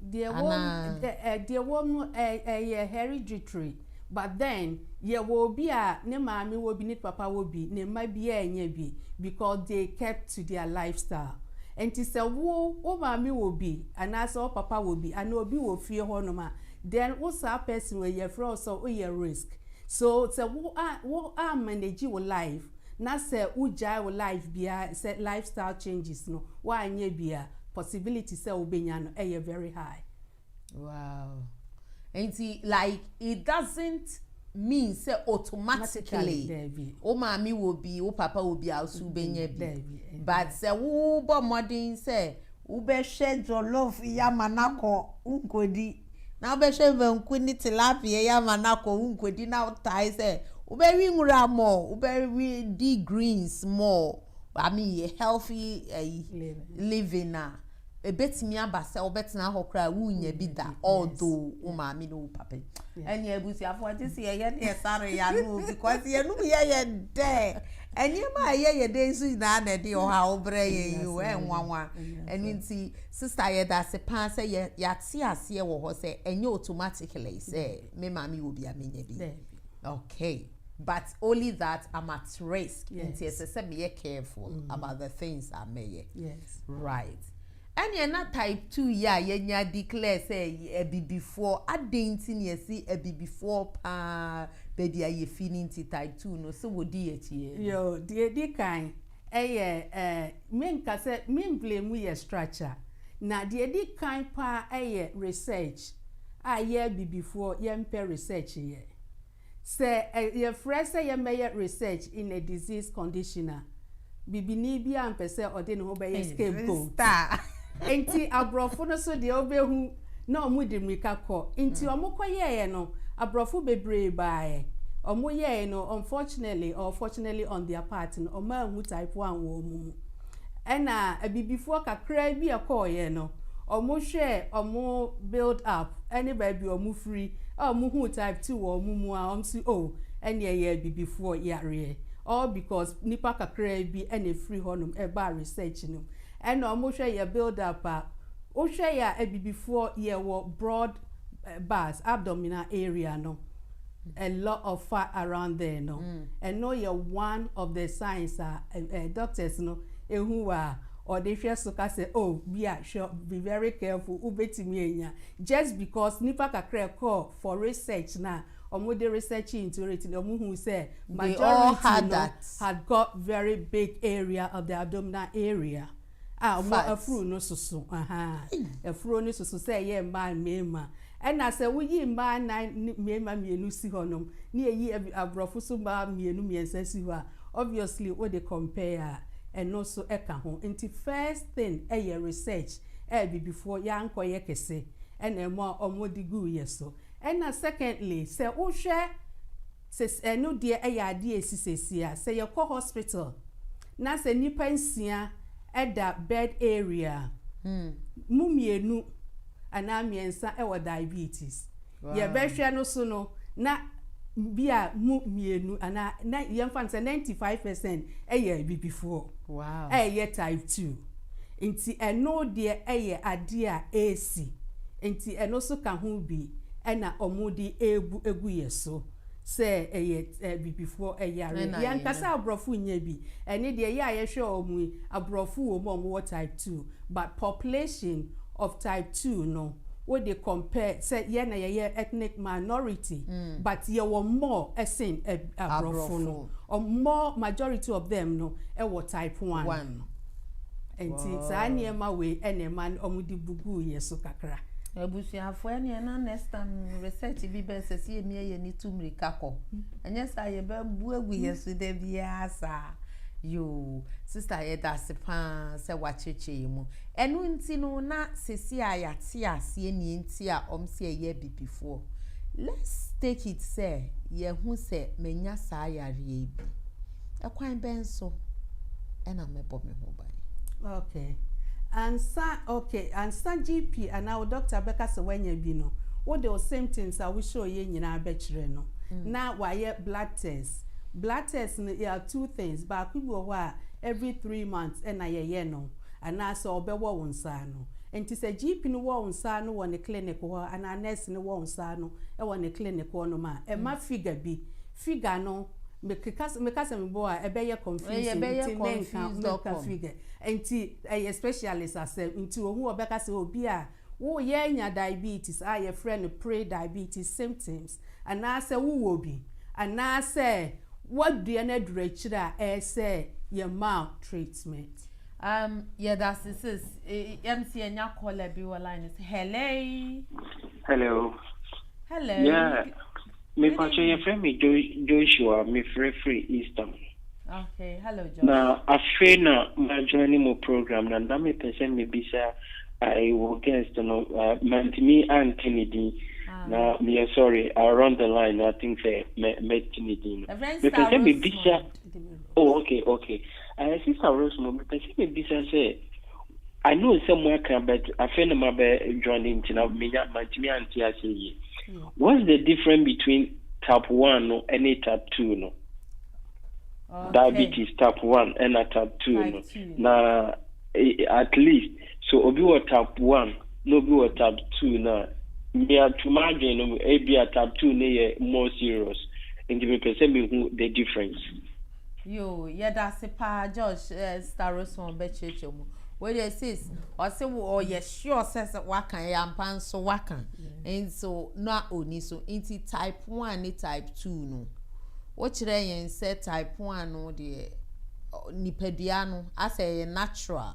deɛ wɔ no ɛyɛ hereditary But then yɛwɔ obi a ne maame wɔ bi ne papa wɔ bi ne mma biaa nnya bi because they kept to their lifestyle ɛnti sɛ wo wo maame wɔ bi anaasɛ wo papa wɔ bi anaa obi wɔ fie hɔ nom a then wo saa person wei yɛfrɛ wo sɛ wo yɛ risk so sɛ wo a wo a manage wo life na sɛ wo gyae wo life biaa sɛ lifestyle changes no wo annyɛ bi a possibility sɛ wo bɛnya no ɛyɛ very high. Wow. Nti like it doesn't mean sɛ automatically wo maame wɔ bi wo papa wɔ bi a so wobɛnya bi but sɛ wobɔ mmɔden sɛ wobɛhwɛ jollof yi ama no akɔ wonkɔdi na wobɛhwɛ banku ne tilapia yi ama no akɔ wonkɔdi na wotae sɛ wobɛwe nwura mɔ wobɛwe di greens mɔ I mean healthy uh, living a Ebetumi aba sɛ wobɛtena hɔ koraa wunnya bi da although wo maame ne wo papa yi. Ɛne abusuafo agye sɛ yɛyɛ ne ɛsare yɛ ano because yɛnom yɛ yɛ dɛ. Nneɛma a ɛyɛ yɛ dɛ nso nyinaa na ɛde ɔhaw brɛ yɛn yi o, ɛnwanwa. Ɛno nti sista yɛda ase paa sɛ yɛate aseɛ wɔ hɔ sɛ ɛnyɛ automatically sɛ me maame wɔ bi a menya bi. Okay. But only that I'm at risk yes. nti ɛsɛ sɛ meyɛ careful mm. about the things a mɛyɛ yes. right ɛneɛ na type two yɛ a yɛnya declare sɛ abibifoɔ adɛn nti ne ɛsi abibifoɔ paa baabi a yɛfi no nti type two no sɛ wɔdi akyiɛ yo deɛ di kan ɛyɛ ɛɛ menka sɛ memvile mu yɛ structure na deɛ di kan paa ɛyɛ research a yɛ abibifoɔ yɛmpɛ research yɛ Sɛ yɛfrɛ sɛ yɛmmɛyɛ research in a disease condition a, bibini biara mpɛ sɛ ɔde ne ho bɛyɛ scapegoat. Enti aborɔfo no so deɛ wobɛhu na wɔde mmirika kɔ. Nti wɔkɔyɛeɛ no, aborɔfo bebree baeɛ. Wɔyɛeɛ no, unfortunately or fortunately on their part no, wɔanhu type one wɔ wɔn mu. Ɛna abibifoɔ kakraa bi a ɛkɔeɛ no, wɔhwɛɛ wɔn build up ne baabi a wɔfiri, a wɔhuu type two wɔ wɔn mu a, wɔse oh, ɛneɛ ɛyɛ abibifoɔ yareɛ, all because nnipa kakraa bi na ɛfiri hɔnom baa research no mu. Ɛna wɔhwɛ yɛn build up a, wohwɛ yɛn a abibifoɔ yɛwɔ broad bars abdominal area no a lot of fat around there no ɛno yɛ one of the signs a doctors no ehu wɔ a ɔde hwɛ so ka sɛ oh bi a hwɛ be very careful wobɛtumi anya just because nipa kakra ɛkɔɔ for research na wɔn de research into it na wɔn hu sɛ majority no had got very big area of the abdominal area. a ɔmo afuru no soso ahaa afuro no soso sɛ ɛyɛ mmaa mmarima ɛna sɛ woyi mmaa nan ne mmarima mmienu si hɔ nom ne eyi aborɔfo so mmaa mmienu mmiɛnsa si hɔ a obviously wode compare a ɛno so ɛka ho nti first thing ɛyɛ research a bibifoɔ yɛankɔyɛ kɛse ɛna ɛmo a ɔmo de guu yɛ so ɛna secondly sɛ wohwɛ Sese ɛno deɛ ɛyɛ adeɛ a ɛsi seesei a sɛ yɛkɔ hospital na sɛ nnipa nsia da bed area a, mu mmienu anaa mmiɛnsa wɔ diabetes. Yɛbɛhwɛ no so no na bi a mu mmienu anaa yɛmfa no sɛ ninety five percent yɛ abibifoɔ a ɛyɛ type two. Nti ɛno deɛ ɛyɛ adeɛ a ɛresi, nti ɛno nso ka ho bi na wɔde rebu agu yɛn so sɛ ɛyɛ abibifoɔ yare. Deɛ ankasa aborɔfo nnya bi, ɛne deɛ yɛ a yɛhwɛ wɔn yi, aborɔfo wɔ mu a wɔwɔ type two, but population of type two no, wode compare sɛ yɛn na yɛyɛ ethnic minority, but yɛwɔ more sen aborɔfo no, more majority of them no wɔ type one. Nti saa nneɛma wei na ɛma wɔde bu guu yɛn so kakra. Abusuafo ɛneɛ na next time research bi bɛɛ sɛ sɛ yɛmia yɛn ani tu mmirika kɔ. Ɛnyɛ saa yɛbɛbu agu yɛn so da biara saa. Yoo, sista yɛda ase paa sɛ woakyerɛkyerɛ yɛn mu. Ɛno nti no na sɛsi a yɛate aseɛ neɛ nti a wɔn sɛ yɛyɛ abibifoɔ. Let's take it sɛ yɛhu sɛ manya saa yareɛ yi bi. Ɛkwan bɛn so na mɛbɔ me ho ban? Okay. Ansa okay, ansa GP anaa wo dɔkta bɛka sɛ woanya bi no, wode wo symptoms a wohyɛeɛ nyinaa bɛkyerɛ no na wayɛ blood test. Blood test no yɛ two things, baako bi wɔ hɔ a every three months na yɛyɛ no anaa sɛ ɔbɛwɔ wo nsa ano. Nti sɛ GP no wɔ wo nsa ano wɔ ne clinic hɔ anaa nurse no wɔ wo nsa ano wɔ ne clinic hɔnom a, ɛma figure bi. Figure no mekeka sɛ meka sɛ mebɔ a ɛbɛyɛ confusing nti menka menka figure nti ɛyɛ specialist asɛm nti ohu ɔbɛka sɛ obi a woyɛ anya diabetes a yɛfrɛ no pre diabetes symptoms anaasɛ wowɔ bi anaasɛ wadua no aduru akyire a ɛsɛ yɛma wo treatment. Um, yɛdase sis. Yɛm si yɛnya caller bi wɔ line no so. Hello. Hello. Hello. Yeah. Me pakyɛ yɛfrɛ me Joshua me frɛ firi Eastham na afei na ma join mo program na na me pɛ sɛ me bisa I wɔ guest no mantimi anka ne din na meyɛ sorry I run the line I think sɛ mɛ mɛ ti ne din no me pɛ sɛ me bisa. Oh okay okay eh, sister Rosemore mepɛ sɛ mebisa sɛ I know sɛ mo aka but afei na mabɛ join nti na menya mantumi ante ase yie hmm. what's the difference between type one no ɛne type two no okay. diabetes type one ɛna type two no na eh, at least So obi wɔ tab one na obi wɔ tab two no a, me a to m'adwene no mu ebi a tab two no yɛ more serious nti mepɛ sɛ mehu the difference. Yoo, yɛda ase paa Josh eh, Sista Rosemond bɛkyerɛkyerɛ mu. Wei deɛ sis, ɔse wo ɔyɛ sure sɛ sɛ waka ɛyɛ ampa nso waka nso na ɔni so nti type one ne type two no wokyerɛ yɛn sɛ type one no deɛ ɔ, nipadua no asɛ ɛyɛ natural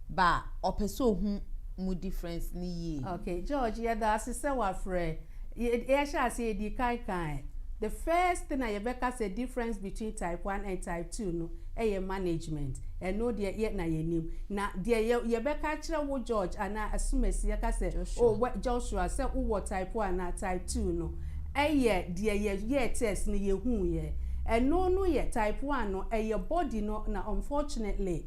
ba a, ɔpɛ sɛ ɔhu mu difference no yie. Okay, George, yɛda ase sɛ wafrɛ. Yɛhyɛ aseɛ yɛdii kan kaeɛ, the first thing a yɛbɛka sɛ difference between type one and type two no yɛ management. Ɛno deɛ yɛ na yɛnim. Na deɛ yɛ yɛbɛka akyerɛ wo George anaa Asumasi yɛka sɛ Joshua. oh wɛ Joshua sɛ wowɔ type one anaa type two no yɛ deɛ yɛyɛɛ test no yɛhuuiɛ. Ɛno no yɛ type one no ɛyɛ body no na unfortunately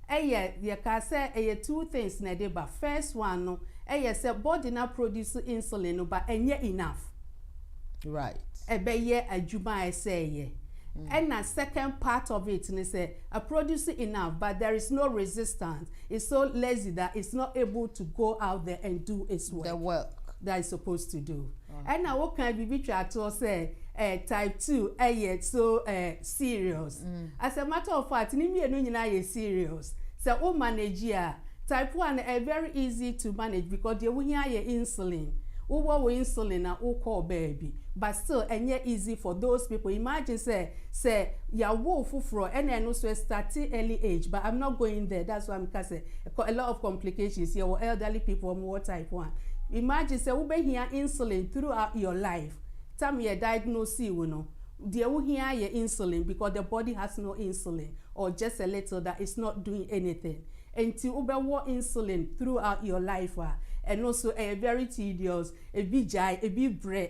Ɛyɛ, yɛkaa sɛ ɛyɛ two things na ɛde ba. First one no, ɛyɛ sɛ body no a produce insulin no but ɛnyɛ enough. Right. Ɛbɛyɛ adwuma a ɛsɛ yɛ. Ɛna second part of it ne sɛ, a produce enough but there is no resistance, it's so lazy that it's not able to go out there and do its work. The work. That it's supposed to do. Ɛna wo kan bibi twa toɔ sɛ eh type two ɛyɛ so eh serious as a matter of fact ne mmienu nyinaa yɛ serious sɛ wo manage a type one no ɛyɛ very easy to manage because deɛ wo hia yɛ insulin wo wɔ wo insulin na wo kɔɔ baabi but still ɛnyɛ easy for those people imagine sɛ sɛ yawo wo foforɔ ɛna ɛno nso ɛstate early age but I'm not going there that's why me ka sɛ a lot of complications yɛwɔ elderly people ɔmo wɔ type one imagine sɛ wobɛhia insulin throughout your life time yɛ diagnosee wo no deɛ wohia yɛ insulin because the body has no insulin or just a little that is not doing anything ɛnti wobɛwɔ insulin throughout your life a ɛno so ɛyɛ very tedious ebi gyae ebi brɛ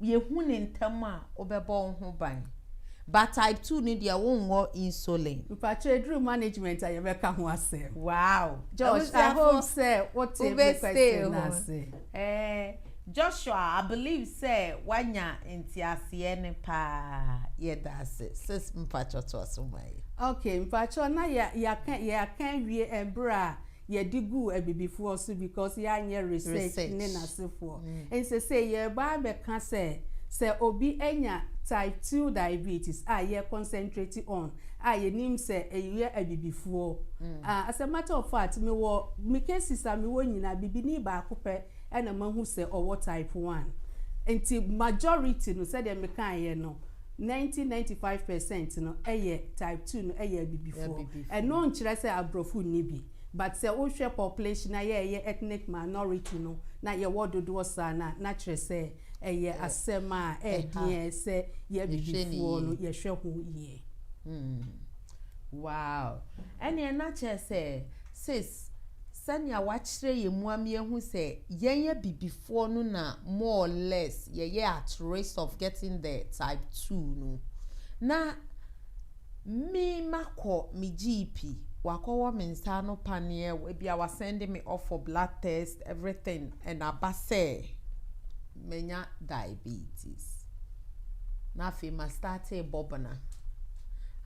yɛhu no ntɛm a wobɛbɔ wo ho ban but type two no deɛ wonwɔ insulin. Mpakyɛ aduru management a yɛbɛka ho asɛm. Wow Josh I hope sɛ wote me question no ase. Eh, Joshua I believe sɛ wanya nteaseɛ no paa yɛda ase sis mpakyɛ toaso ma yɛ. Okay mpakyɛ na yɛaka yɛaka awie ɛberɛ a Yɛde guu abibifoɔ so because yɛanyɛ research ne n'asefoɔ. Nti sesei yɛreba abɛka sɛ, sɛ obi anya type two diabetes a yɛ concentrate on a yɛnim sɛ ɛyɛ abibifoɔ a, as a matter of fact mewɔ me cases a mewɔ nyinaa bibini baako pɛ na mahu sɛ ɔwɔ type one. Nti majority no sɛdeɛ mekaeɛ no, Ninety ninety five percent no yɛ type two no yɛ abibifoɔ. Ɛno nkyerɛ sɛ abrɔfo nni bi but sɛ wohwɛ population a yɛyɛ ethnic minority no na yɛwɔ dodoɔ saa no a na kyerɛ sɛ ɛyɛ asɛm a ɛɛdeɛ sɛ yɛ abibifoɔ no yɛhwɛ ho yie. Wow ɛneɛ na kyerɛ sɛ seesei. Yes, sɛnea wɔakyerɛ yɛn mu ama yɛahu sɛ yɛn abibifoɔ no na more or less yɛyɛ at risk of getting the type two no. Na me makɔ me GP, wakɔwɔ me nsa ano paneɛ, ebia wasɛnde me off for blood test, everything, and aba sɛ. manya diabetes na afei ma starte bɔ bena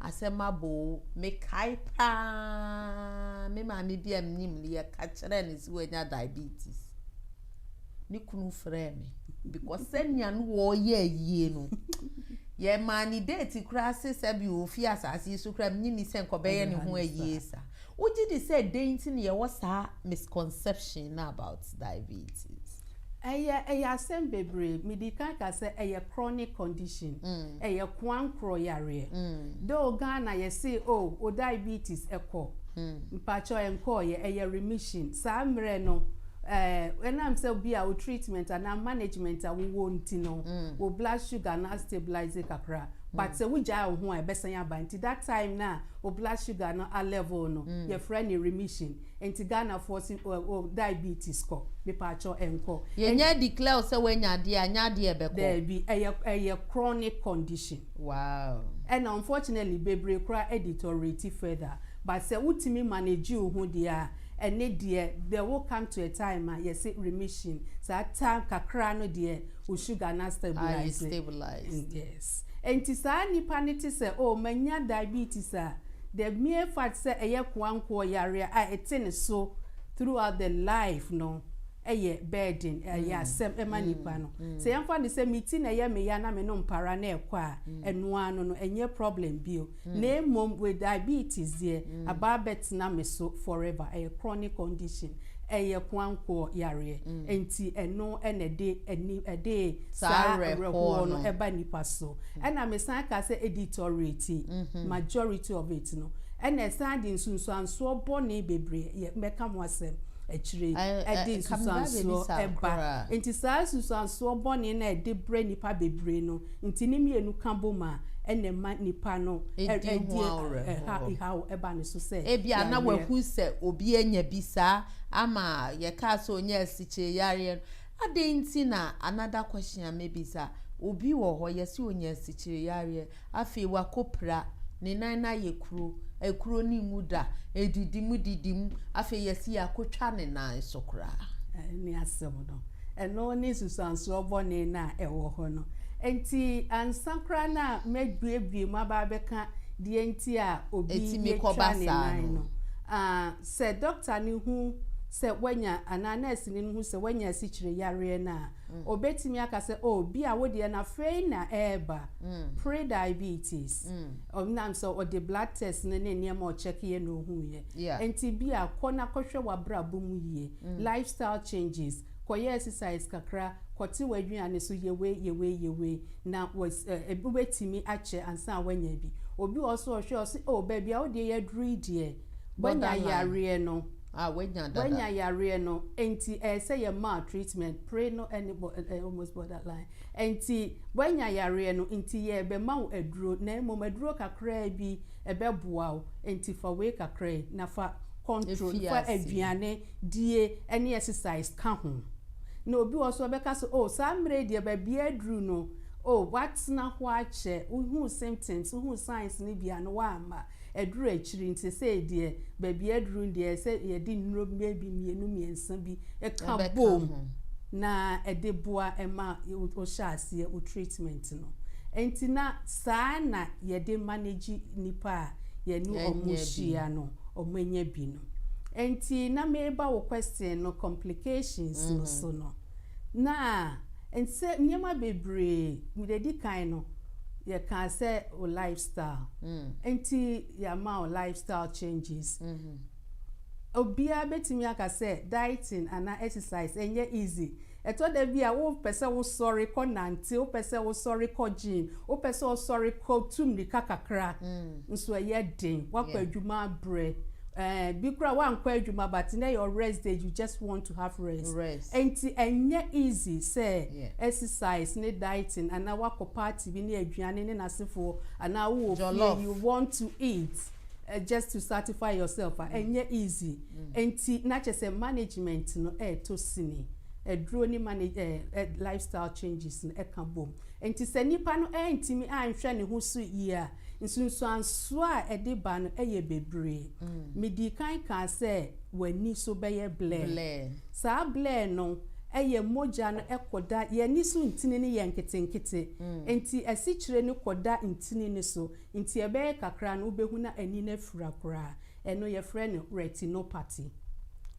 asɛm aboo me kae paa me maame bi a menim no yɛ ka kyerɛ no sɛ wanya diabetes ne kunu frɛɛ me because sɛnea no wɔyɛ ayie no yɛ maa ne date koraa se sɛ bi ofi asase so koraa menye ne sɛ nkɔbɛyɛ ne ho ayie sa wogye de sɛ dɛn nti na yɛwɔ saa misconception no about diabetes. Ɛyɛ ɛyɛ asɛm bebree mede kan ka sɛ ɛyɛ chronic condition ɛyɛ koankorɔ yareɛ though Ghana yɛse oh wo diabetes ɛkɔ mpakyɛw ɛnkɔɔyɛ ɛyɛ remission saa mmerɛ no ɛɛ ɛnam sɛ bi a wo treatment anaa management a wo wɔ nti no wo blood sugar no a stabilize kakra but sɛ wo gyae wo ho a ɛbɛsan aba nti that time no a wo blood sugar no a level no yɛfrɛ no remission. Ɛnti Ghana foɔ se oh oh diabetes kɔ mepaakyɛw ɛnkɔ. Yɛnya declare sɛ wanya adeɛ a nyɛ adeɛ a ɛbɛkɔ. Daabi ɛyɛ ɛyɛ chronic condition. Wow. Ɛna unfortunately bebree koraa ɛdeteriorate further but sɛ wotumi manage wo ho deɛ a ɛne deɛ there will come to a time a yɛse remission saa time kakra no deɛ wo sugar no astabilise. Aye stabilise. Yes. Ɛnti saa nipa no te sɛ oh manya diabetes a. The mere fact sɛ ɛyɛ koankoɔ yareɛ a ɛte ne so throughout the life no yɛ burden, ɛyɛ asɛm ma nipa no. Sɛ yɛmfa no sɛ me ti na ɛyɛ me ya na me nom para na ɛkɔ a, ɛno ara no no ɛnyɛ problem bio. Na mmom with diabetes deɛ, aba abɛtena me so forever, ɛyɛ chronic condition, ɛyɛ koankoɔ yareɛ. Ɛnti ɛno na ɛde ɛde saa awerɛhoɔ no ba nipa so. Ɛna me san ka sɛ editorate majority of it no ɛna ɛsan de nsunsuansoɔ bɔne bebree yɛ mɛka ho asɛm akyire yi ɛde nsunsuansoɔ ɛba nti saa nsunsuansoɔ bɔne no a ɛde brɛ nnipa bebree no nti ne mmienu ka bom a ɛna ɛma nnipa no ɛdi haw ɛba ne so sɛ ebia na wahu sɛ obi anya bi saa ama yɛkaa sɛ ɔnya asikyereyareɛ no Adɛn nti na another question a mɛbisa, obi wɔ hɔ yɛse ɔnya asikyire yareɛ, afei wakɔ pira, ne nan no ayɛ kuro, ɛkuro no nwu da, ɛdidi mu didi mu, afei yɛse yɛakɔ twa ne nan so koraa. Ɛne asɛm no. Ɛno ne nsusuansoɔ bɔne no a ɛwɔ hɔ no. Ɛnti ansa koraa na mɛbuebue mu aba abɛka deɛ nti a obi yɛtwa ne nan no, sɛ doctor no hu sɛ wanya anaa nurse, sini no hu sɛ wanya asikyire yareɛ no a, ɔbɛtumi aka sɛ, O, bi a wo deɛ no afei na ɛreba, pre-diabetes. Ɛnam sɛ ɔde blood test no ne nneɛma a ɔkyɛkeeɛ na ɔhuuiɛ. Enti bi a kɔ na kɔhwɛ w'abrabɔ mu yie, lifestyle changes, kɔyɛ exercise kakra, kɔte w'aduane so, yɛ wei, yɛ wei, yɛ wei, na was ɛ ɛ wobɛtumi akyɛ ansa na woanya bi. Obi wɔ hɔ nso a ɔhwɛ a, ɔse, O, baabi a wo deɛ yɛaduru yi deɛ, Wanya yareɛ no. Ah, wanya dada. Wanya yareɛ no. Enti ɛyɛ sɛ yɛ maa treatment. Pre no ɛne bɔ ɛɛ almost borderline. Enti wanya yareɛ no. Enti yɛ bɛ ma wo aduro. Na mmom aduro kakraa bi ɛbɛ boa wo. Enti fa wei kakra yi. Na fa control. Efi ase. Fa aduane die ɛne exercise ka ho. Na obi wɔ hɔ nso ɔbɛka sɛ oh saa mmerɛ yi deɛ baabi aduru no oh watena hɔ akyɛ. Wo hu symptoms, wo hu signs no bi a no wamma. Aduru akyiri nti sei deɛ baabi aduru no deɛ sɛ yɛde nnuro bɛyɛ bi mmienu mmiɛnsa bi ka boom na ɛde boa ma wohyɛ aseɛ wo treatment no. Ɛnti na saa na yɛde manage nnipa a yɛne wɔn hyia no wɔn anya bi no. Ɛnti na mereba wo question no complications no so no. na nsɛ nneɛma bebree mede adi kan no yɛkaa sɛ o life style mm. nti yɛama o life style changes mm -hmm. obiara bɛtumi aka sɛ dieting anaa exercise ɛnyɛ easy ɛtɔ da bi a wopɛ sɛ wosɔre kɔ nante wopɛ sɛ wosɔre kɔ gym wopɛ sɛ wosɔre kɔ tu mmirika kakra mm. nso ɛyɛ den wakɔ yeah. adwuma abrɛ ɛɛ eh, bi kura wankɔ adwuma but na yɛ rest day you just want to have rest rest nti ɛnyɛ easy sɛ yeah. exercise ne dieting anaa wakɔ party bi ne aduane ne n'asefoɔ anaa wowɔ fie you want to eat uh, just to satisfy yourself a ɛnyɛ mm. easy mm. nti na kyɛ sɛ management no ɛɛtɔ sini aduro ne manage ɛɛ eh, lifestyle changes no ɛka bom nti sɛ nipa no ɛntumi anhwɛ ne ho so yie a. Nsunsuansoɔ a ɛde ba no yɛ bebree. Medii kan kaa sɛ w'ani so bɛyɛ blɛɛ. Saa blɛɛ no yɛ mogya no kɔda yɛn ani so ntini no yɛ nketenkete, nti asikyire no kɔda ntini no so, nti ɛbɛyɛ kakra no wobɛhu na ani no afura koraa. Ɛno yɛfrɛ no retinopathy,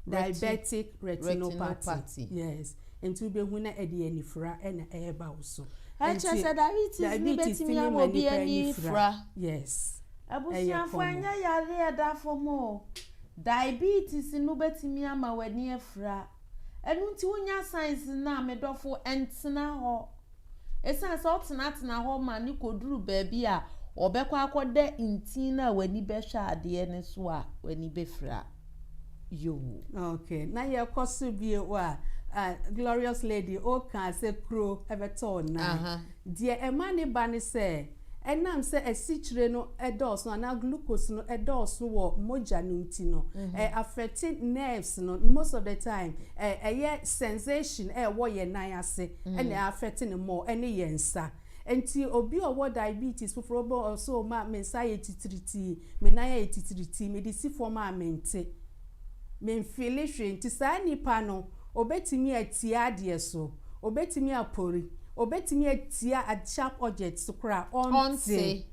diabetic retinopathy, yes. Nti wobɛhu na ɛde anifira na ɛreba wo so. Ɛkyerɛ sɛ diabetes no bɛtumi ama obi ani fira. Yes. Abusuafo ɛnyɛ yareɛ ɛda fam o. Diabetes no bɛtumi ama w'ani afira. Ɛno nti wonya signs no a, me dɔfo ntena hɔ. Esiane sɛ ɔtenatena hɔ ma no koduru baabi a ɔbɛkɔ akɔda ntin no a w'ani bɛhwɛ adeɛ no so a w'ani bɛfira yoo. Ok, na yɛkɔ so bio a, ah, glorious lady, wokaa sɛ kuro bɛtɔ wo nan. Aha. Deɛ ɛma ne ba ne sɛ, Ɛnam sɛ asikyire no dɔɔso anaa glucose no dɔɔso wɔ mogya no nti no, ɛ affecte nerves no, most of the time ɛ ɛyɛ sensation a ɛwɔ yɛn nan ase ɛna ɛ affecte no more ɛne yɛn nsa. Nti obi a ɔwɔ diabetes foforɔ bɛ ɔ sɛ o ma me nsa ayɛ titiritii, me nan ayɛ titiritii, mede si fam a mente, menfeele hwee. Nti saa nipa no. Obetumi atia adeɛ so. Obetumi apori. Obetumi atia ad sharp object so koraa a ɔnte.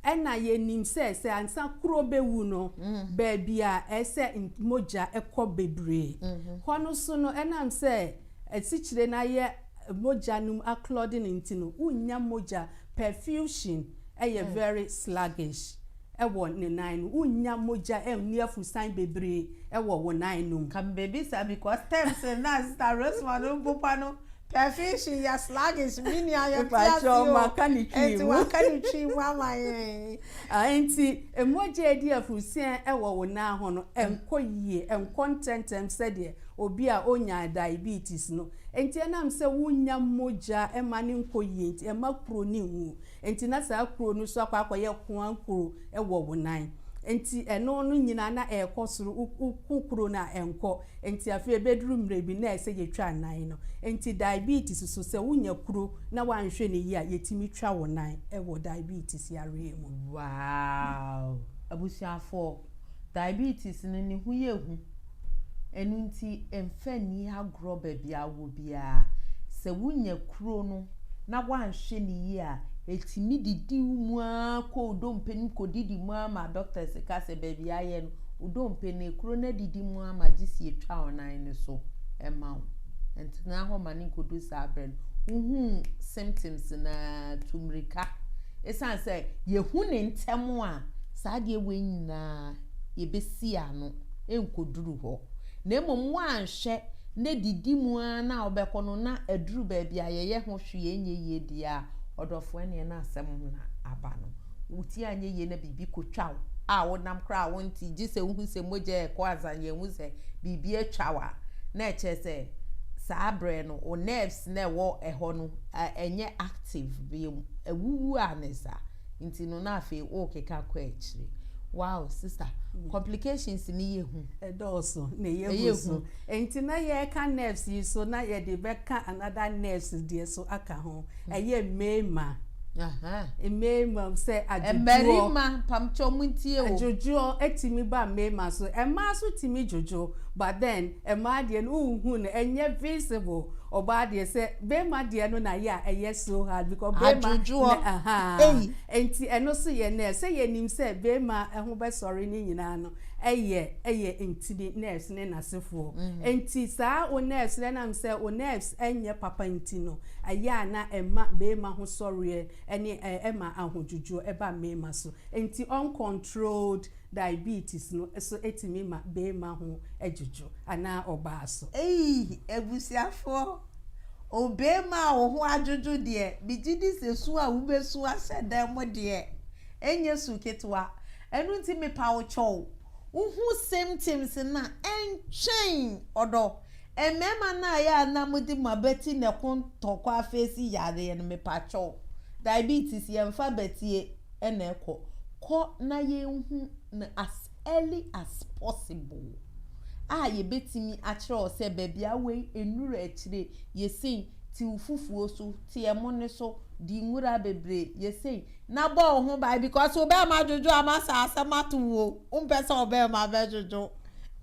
Ɛna yɛnim sɛ, sɛ ansa kuro bɛwu no, baabi a ɛsɛ n mogya kɔ bebree. Hɔ no so no, ɛnam sɛ asikyire no ayɛ mogya no mu acloding nti no, wonnya mogya. Perfusion yɛ very sluggish. wɔ ne nan no wonnya mogya nni afusan bebree wɔ wo nan no mu. Ka mebisa because terms na sister Rosemond mpopa no perfection yɛ sluggish me nua yɛnte ase o ɛnti waka ne twi mu ama yɛn. Ɛnti mogya ɛdi afusan wɔ wo nan ho no ɛnkɔ yie ɛnkɔ ntɛntɛm sɛdeɛ obi a ɔnya diabetes no ɛnti ɛnam sɛ wonnya mogya ɛma no nkɔ yie nti ɛma kuro no nwu Enti na saa kuro no nso akɔ akɔyɛ Hoang kuro wɔ Wonan. Enti ɛno no nyinaa na ɛrekɔ soro, wo, wo, wo kuro no a ɛnkɔ. Enti afei ɛbɛduru mmerɛ bi na ɛsɛ sɛ yɛtwa nan no. Enti diabetes nso sɛ wonya kuro na woanhwɛ no yie a, yɛtumi twa wo nan wɔ diabetes yareɛ mu. Wow! Abusuafoɔ, Diabetes no ne ho yɛ hu, ɛno nti mfa nni agorɔ baabi a wowɔ biara. Sɛ wonya kuro no na woanhwɛ no yie a, ɛtumi didi wo mu ara kɔ wo dompe no mu kɔdidi mu ara ma doctors ka sɛ baabi a ayɛ no, wo dompe no, kuro no adidi mu ara ma gye sɛ yɛtwa wo nan no so ma wo. Ntena hɔ ma no nkɔdu saa berɛ no. Wohu symptoms no a, tu mmirika. Ɛsiane sɛ yɛhu no ntɛm a, saa adeɛ wei nyinaa yɛbɛsi ano ɛnkɔduru hɔ, na mmom woanhwɛ na didi mu ara na wobɛkɔ no na aduru baabi a yɛyɛ ho hwee ɛnyɛ yie deɛ a, ɔdɔfoɔ ɛneɛ na asɛm ho na aba no. Wotie anyɛ yie na biribi kɔtwa wo a wonam koraa a wonte, gye sɛ wohu sɛ mogya ɛrekɔ ansa yɛahu sɛ biribi atwa wo a, na ɛkyerɛ sɛ saa berɛ no wo nerves no a ɛwɔ hɔ no ɛnyɛ active bio, awuwu a ne saa. nti no na afei wokeka kɔ akyire wow sister mm. complications ni yɛ hu ɛdɔɔso na ɛyɛ hu so nti na yɛka nerves yi so na yɛde bɛka another nerves deɛ so aka ho mm. ɛyɛ mmarima mmarima sɛ adwodwoɔ mmarima pamkyɛ ɔmo ntie o adwodwoɔ ɛtumi ba mmarima so ɛmaa so tumi dwodwo but then Mmaa deɛ no wonhu no ɛnyɛ visible ɔbaa deɛ sɛ barima deɛ no na yɛ a ɛyɛ so hard because barima na ahaa nti ɛno nso yɛ nurse sɛ yɛnim sɛ barima ho bɛsɔre ne nyinaa no ɛyɛ ɛyɛ ntini nurse ne nasefoɔ nti saa wo nurse no ɛnam sɛ wo nerves ɛnyɛ papa nti no ɛyɛ a na ɛma barima ho sɔreɛ ɛne ɛma ahodwodwoɔ ɛba mmarima so nti uncontrolled Diabetes no so tumi ma beema ho dwudwo anaa ɔbaa so. Eii abusuafoɔ, obeema a wo ho adwodwo deɛ, megye di sɛ su a wobesu ahyɛ dan mu deɛ, ɛnyɛ su ketewa. Ɛno nti mepa wo kyɛw, wohu symptoms no a, ɛntwɛn, ɔdɔ, Mmarima no a yɛ a na mode mo abati na ɛko ntɔkwa afeesi yareɛ no mepatwɔ wo diabetes yɛnfa abatie na ɛkɔ kɔ na yɛnhu no as early as possible a yɛbɛtumi akyerɛ wo sɛ baabi a wei nnuru akyire yɛ sei tiw fufuo so teɛ mo no so di nwura bebree yɛ sei Na bɔ wo ho ban because wo bɛɛma dwodwo a ma sɛ asɛm ato wo o, wo mpɛ sɛ wo bɛɛma bɛ dwodwo.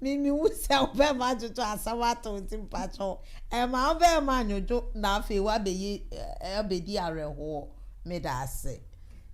Me me hu sɛ wo bɛɛma dwodwo a asɛm ato wo nti mpakyɛw ɛɛma wo bɛɛma nwodwo na afei wa bɛ yi ɛ bɛ di awerɛhoɔ. Me da ase.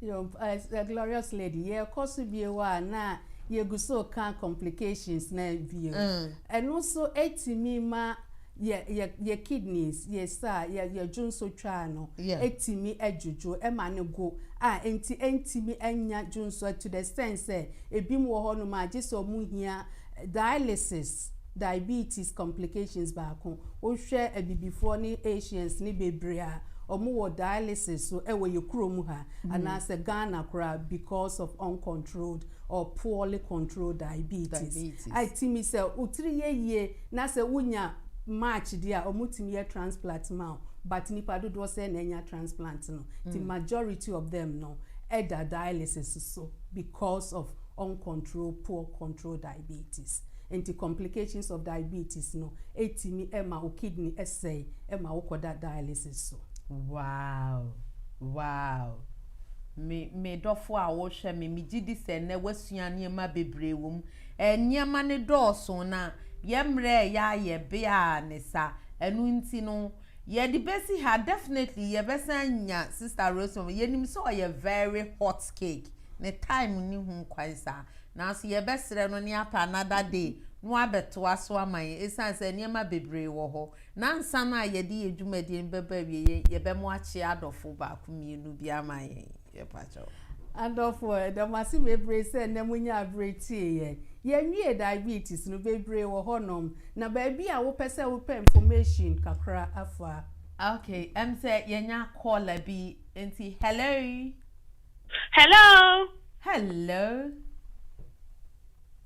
Your eh glorious lady yɛ kɔ so bio a na yɛ gu so ka complications na bio. Ɛno nso ɛtumi ma. yɛ yɛ yɛ kidneys yɛ sa yɛ yɛ dwonsotwaa no tumi dwodwo ma no go a nti ɛntumi nnya dwonso to the extent sɛ ebinom wɔ hɔnom a gye sɛ wɔn hia dialysis diabetes complications baako wohwɛ abibifoɔ ne Asians ne bebree a wɔn wɔ dialysis so wɔ yɛ kurom ha anaasɛ Ghana koraa because of uncontrolled or poorly controlled diabetes a ɛtumi sɛ wo tiri yɛ yie. Na sɛ wo nya match deɛ a ɔmo tumi yɛ transplat ma wo but nipa dodoɔ sɛn na anya transplant no nti majority of them no ɛda dialysis so because of uncontrol poor control diabetes nti complications of diabetes no ɛtumi ma wo kidney ɛsɛe ɛma wo kɔda dialysis so. Wow wow me me dɔfo a wo hwɛ me me gye di sɛ nnɛ woasua nneɛma bebree wɔ mu. Nneɛma no dɔɔso na yɛn mmerɛ a ɛyɛ a yɛ bea ara ne sa. Ɛno nti no yɛde bɛsi ha. Definitely yɛbɛsan anya Sister Rosemary. Yɛnim sɛ ɔyɛ very hot cake. Ne time nni ho kwan saa. Nanso yɛbɛsrɛ no na yɛapɛ another day na wabɛtoa so ama yɛn ɛsiane sɛ nneɛma bebree wɔ hɔ. Na ansa no a yɛde yɛn dwumadie no bɛba awieɛ, yɛbɛma wakyea adɔfo baako mmienu bi ama yɛn. Adɔfoɔ, yɛda mo ase bebree sɛ nnɛ monya aberɛ tie yɛn. Yɛnwie diabetes no, bebree wɔ hɔnom, na baabi a wopɛ sɛ wopɛ information kakra afa. Ok, ɛm sɛ yɛnya caller bi, nti hello. Hello. Hello.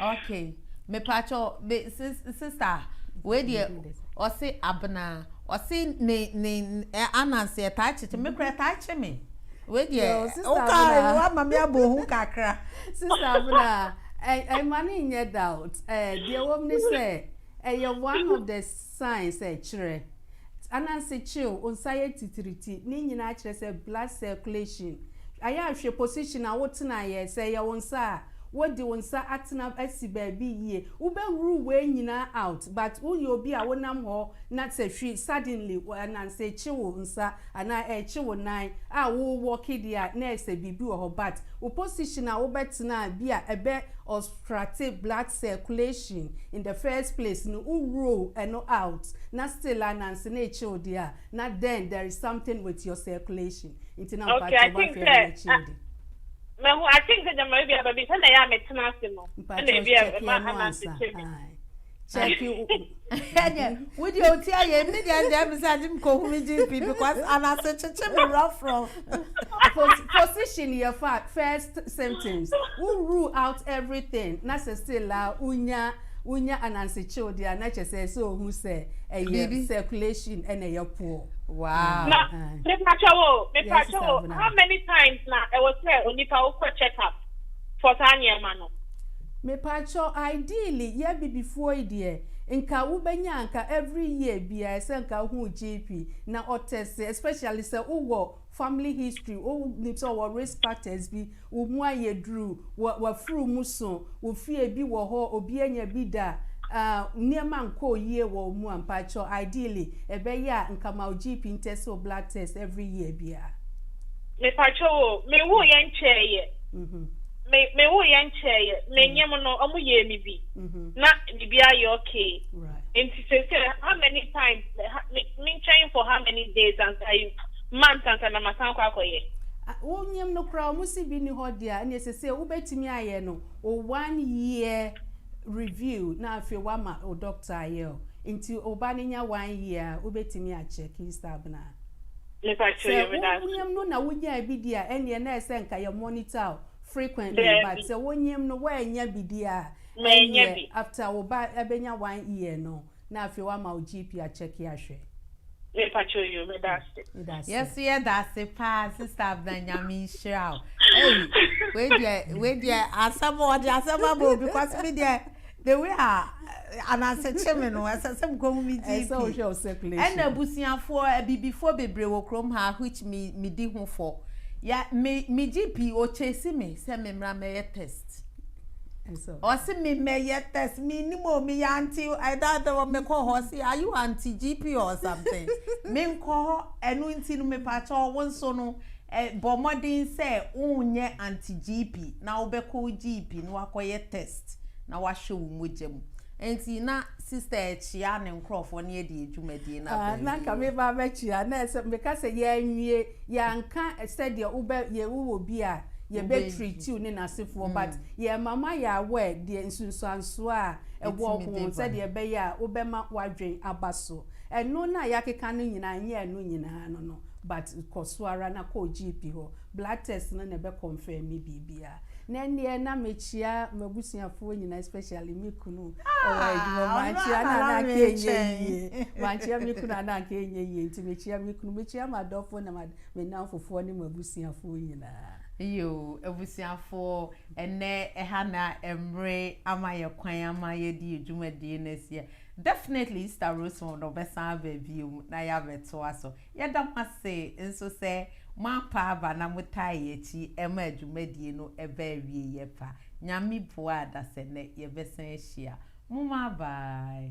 ok mepatwɔ me sista wei deɛ ɔse abena ɔse ne ne anansi ɛtaa kyekye me kura ɛtaa kye me wei deɛ woka wama me abɔ ho kakra sista abena ɛma ne nyɛ doubt deɛ wɔm ne sɛ Ɛyɛ one of the signs a ɛkyerɛ. Ananse kyew, onsa yɛ titiriti, ne nyinaa kyerɛ sɛ blood circulation ayɛ a hwɛ position a wo tenaeɛ, sɛ ɛyɛ wo nsa a wo de wo nsa atena asi baabi yie, wo bɛ rule wei nyinaa out but wo yɛ obi a wo nam hɔ na sɛ hwi suddenly ananse kye wo nsa anaa ɛkye wo nan a wo walk deɛ a na ɛsɛ biribi wɔ hɔ but wo position a wo bɛ tena a bi a ɛbɛ krate blood circulation in the first place no wo rule ɛno out na still a nanse na ekyew deɛ a na then there is something with your circulation nti na mpakyɛw okay i think sɛ ah mɛhu i think sɛ gyama ebi a baabi sɛ na ɛyɛ a metena ase no ɛna ebi a ɛma ananse kyɛ bi. Check you. Ɛnyɛ, wo deɛ o ti ayɛ, mi deɛ ɛdɛm mi sɛ ɛdi mi kɔ hu mi GP because anase kyekye mi rough rough. Pos- position yɛ fa first symptoms wo rule out everything na sɛ still la wonya wonya anansekyew deɛ a na kyɛ sɛ sɛ ohu sɛ ɛyɛ Biribi. circulation ɛna ɛyɛ poor wow Na ah. mepakyɛ wo, Yes, mepakyɛ Sister wo, Abena. how many times na ɛwɔ sɛ onipa wokɔ check up for saa nneɛma no? Mepakyɛw ideally yɛ abibifoɔ yi deɛ nka wo bɛnya nka every year biaa ɛsɛ nka wo hu GP na ɔ test especially sɛ wo wɔ family history wo nim sɛ ɔwɔ risk factors bi wo mu ayɛ duru wa wafuru mu so wo fie bi wɔ hɔ obi anya bi da ah nneɛma nkɔɔ yie wɔ wo mu a mpakyɛw ideally ɛbɛyɛ a nka ma wo GP ntest wo blood test every year biaa. Mepakyɛw o, me woo yɛ nkyɛɛ yɛ. me me wo yɛ nkyɛɛyɛ me nyɛ mo no ɔmo yɛ mi bi mm-hmm. na bibi ayɛ okay nti sɛ sɛ how many times me nkyɛn for how many days ansa yi months ansa na ma san kɔ akɔyɛ. wonyam no koraa ɔmo si bi ni hɔ deɛ ɛna ɛsɛ sɛ wobɛtumi ayɛ no o one year review na afei wama o doctor ayɛ o nti ɔba no nya one year a wobɛtumi akyɛ key stab no a. Sɛ wonyim no na wonyaa bi di a, ɛnneɛ na ɛsɛ sɛ nka yɛ monitor wo frequently, but sɛ wonyim no woannya bi di a, ɛnneɛ after wo ba bɛnya one year no, na afei woama wo GP akyɛke ahwɛ. Yɛso yɛdase paa sister Abena Nyame nhyira wo. Ei wei deɛ wei deɛ asɛm o ɔde asɛm aba obi kwasi me deɛ. The way a ananse kye me no, ɛsɛ sɛ mekɔ hu me GP. Ɛsɛ sɛ wohwɛ wo circulation. Ɛna abusuafoɔ, abibifoɔ bebree wɔ kurom ha a which me medi ho fɔ. Yɛ me me GP ɔkyɛsi me sɛ memmra mmɛyɛ test. Ɔse me mmɛyɛ test, mennim o, meyɛ aunty o, ɛda da wɔ mekɔ hɔ ɔse are you aunty GP or something? Menkɔ hɔ, ɛno nti no mepakyɛw wo nso no, Ɛ, Bɔ mmɔden sɛ worenyɛ anti-GP na wobɛkɔ wo GP na woakɔyɛ test na woahwɛ wo mogya mu. Enti na Sister rekyea ne nkurɔfoɔ na yɛde yɛ dwumadie no aba Ah, na anka awieeɛ. meba abɛkyea, na ɛsɛ, meka sɛ yɛanwie, yɛanka sɛdeɛ wobɛ, yɛ, wowɔ obi a yɛbɛ Wobɛ, treat wo ne n'asefoɔ, but mm. yɛma moayɛ aware deɛ nsunsuansoɔ a ɛwɔ Ɛtumi ho, de ba. sɛdeɛ ɛbɛyɛ a wobɛma w'adwene aba so. Ɛno no a yɛakeka no nyinaa, ɛnyɛ ɛno nyinaa no no. But kɔ so ara na kɔ GP hɔ, blood test no na ɛbɛ confirm biribiara. Na ɛnneɛ na mekyia m'abusuafoɔ nyinaa especially me kunu wɔ adwuma mu, mankyia no a na anka ɛnyɛ yie, mankyia me kunu a na anka ɛnyɛ yie, nti mekyia me kunu, mekyia m'adɔfoɔ ne me nnamfofoɔ ne m'abusuafoɔ nyinaa. Yoo, abusuafoɔ, ɛnnɛ ɛha na mmere ama yɛn kwan ama yɛde yɛn dwumadie no asi. Definitely Easter Roseform no ɔbɛsan aba bio mu na yɛabɛtoa so. Yɛda mo ase nso sɛ moampa aba na motaa yɛn akyi ma dwumadie no ɛbaa awieɛ pa. Nyame boa a dasɛnnɛ yɛbɛsan ahyia. Momma bye.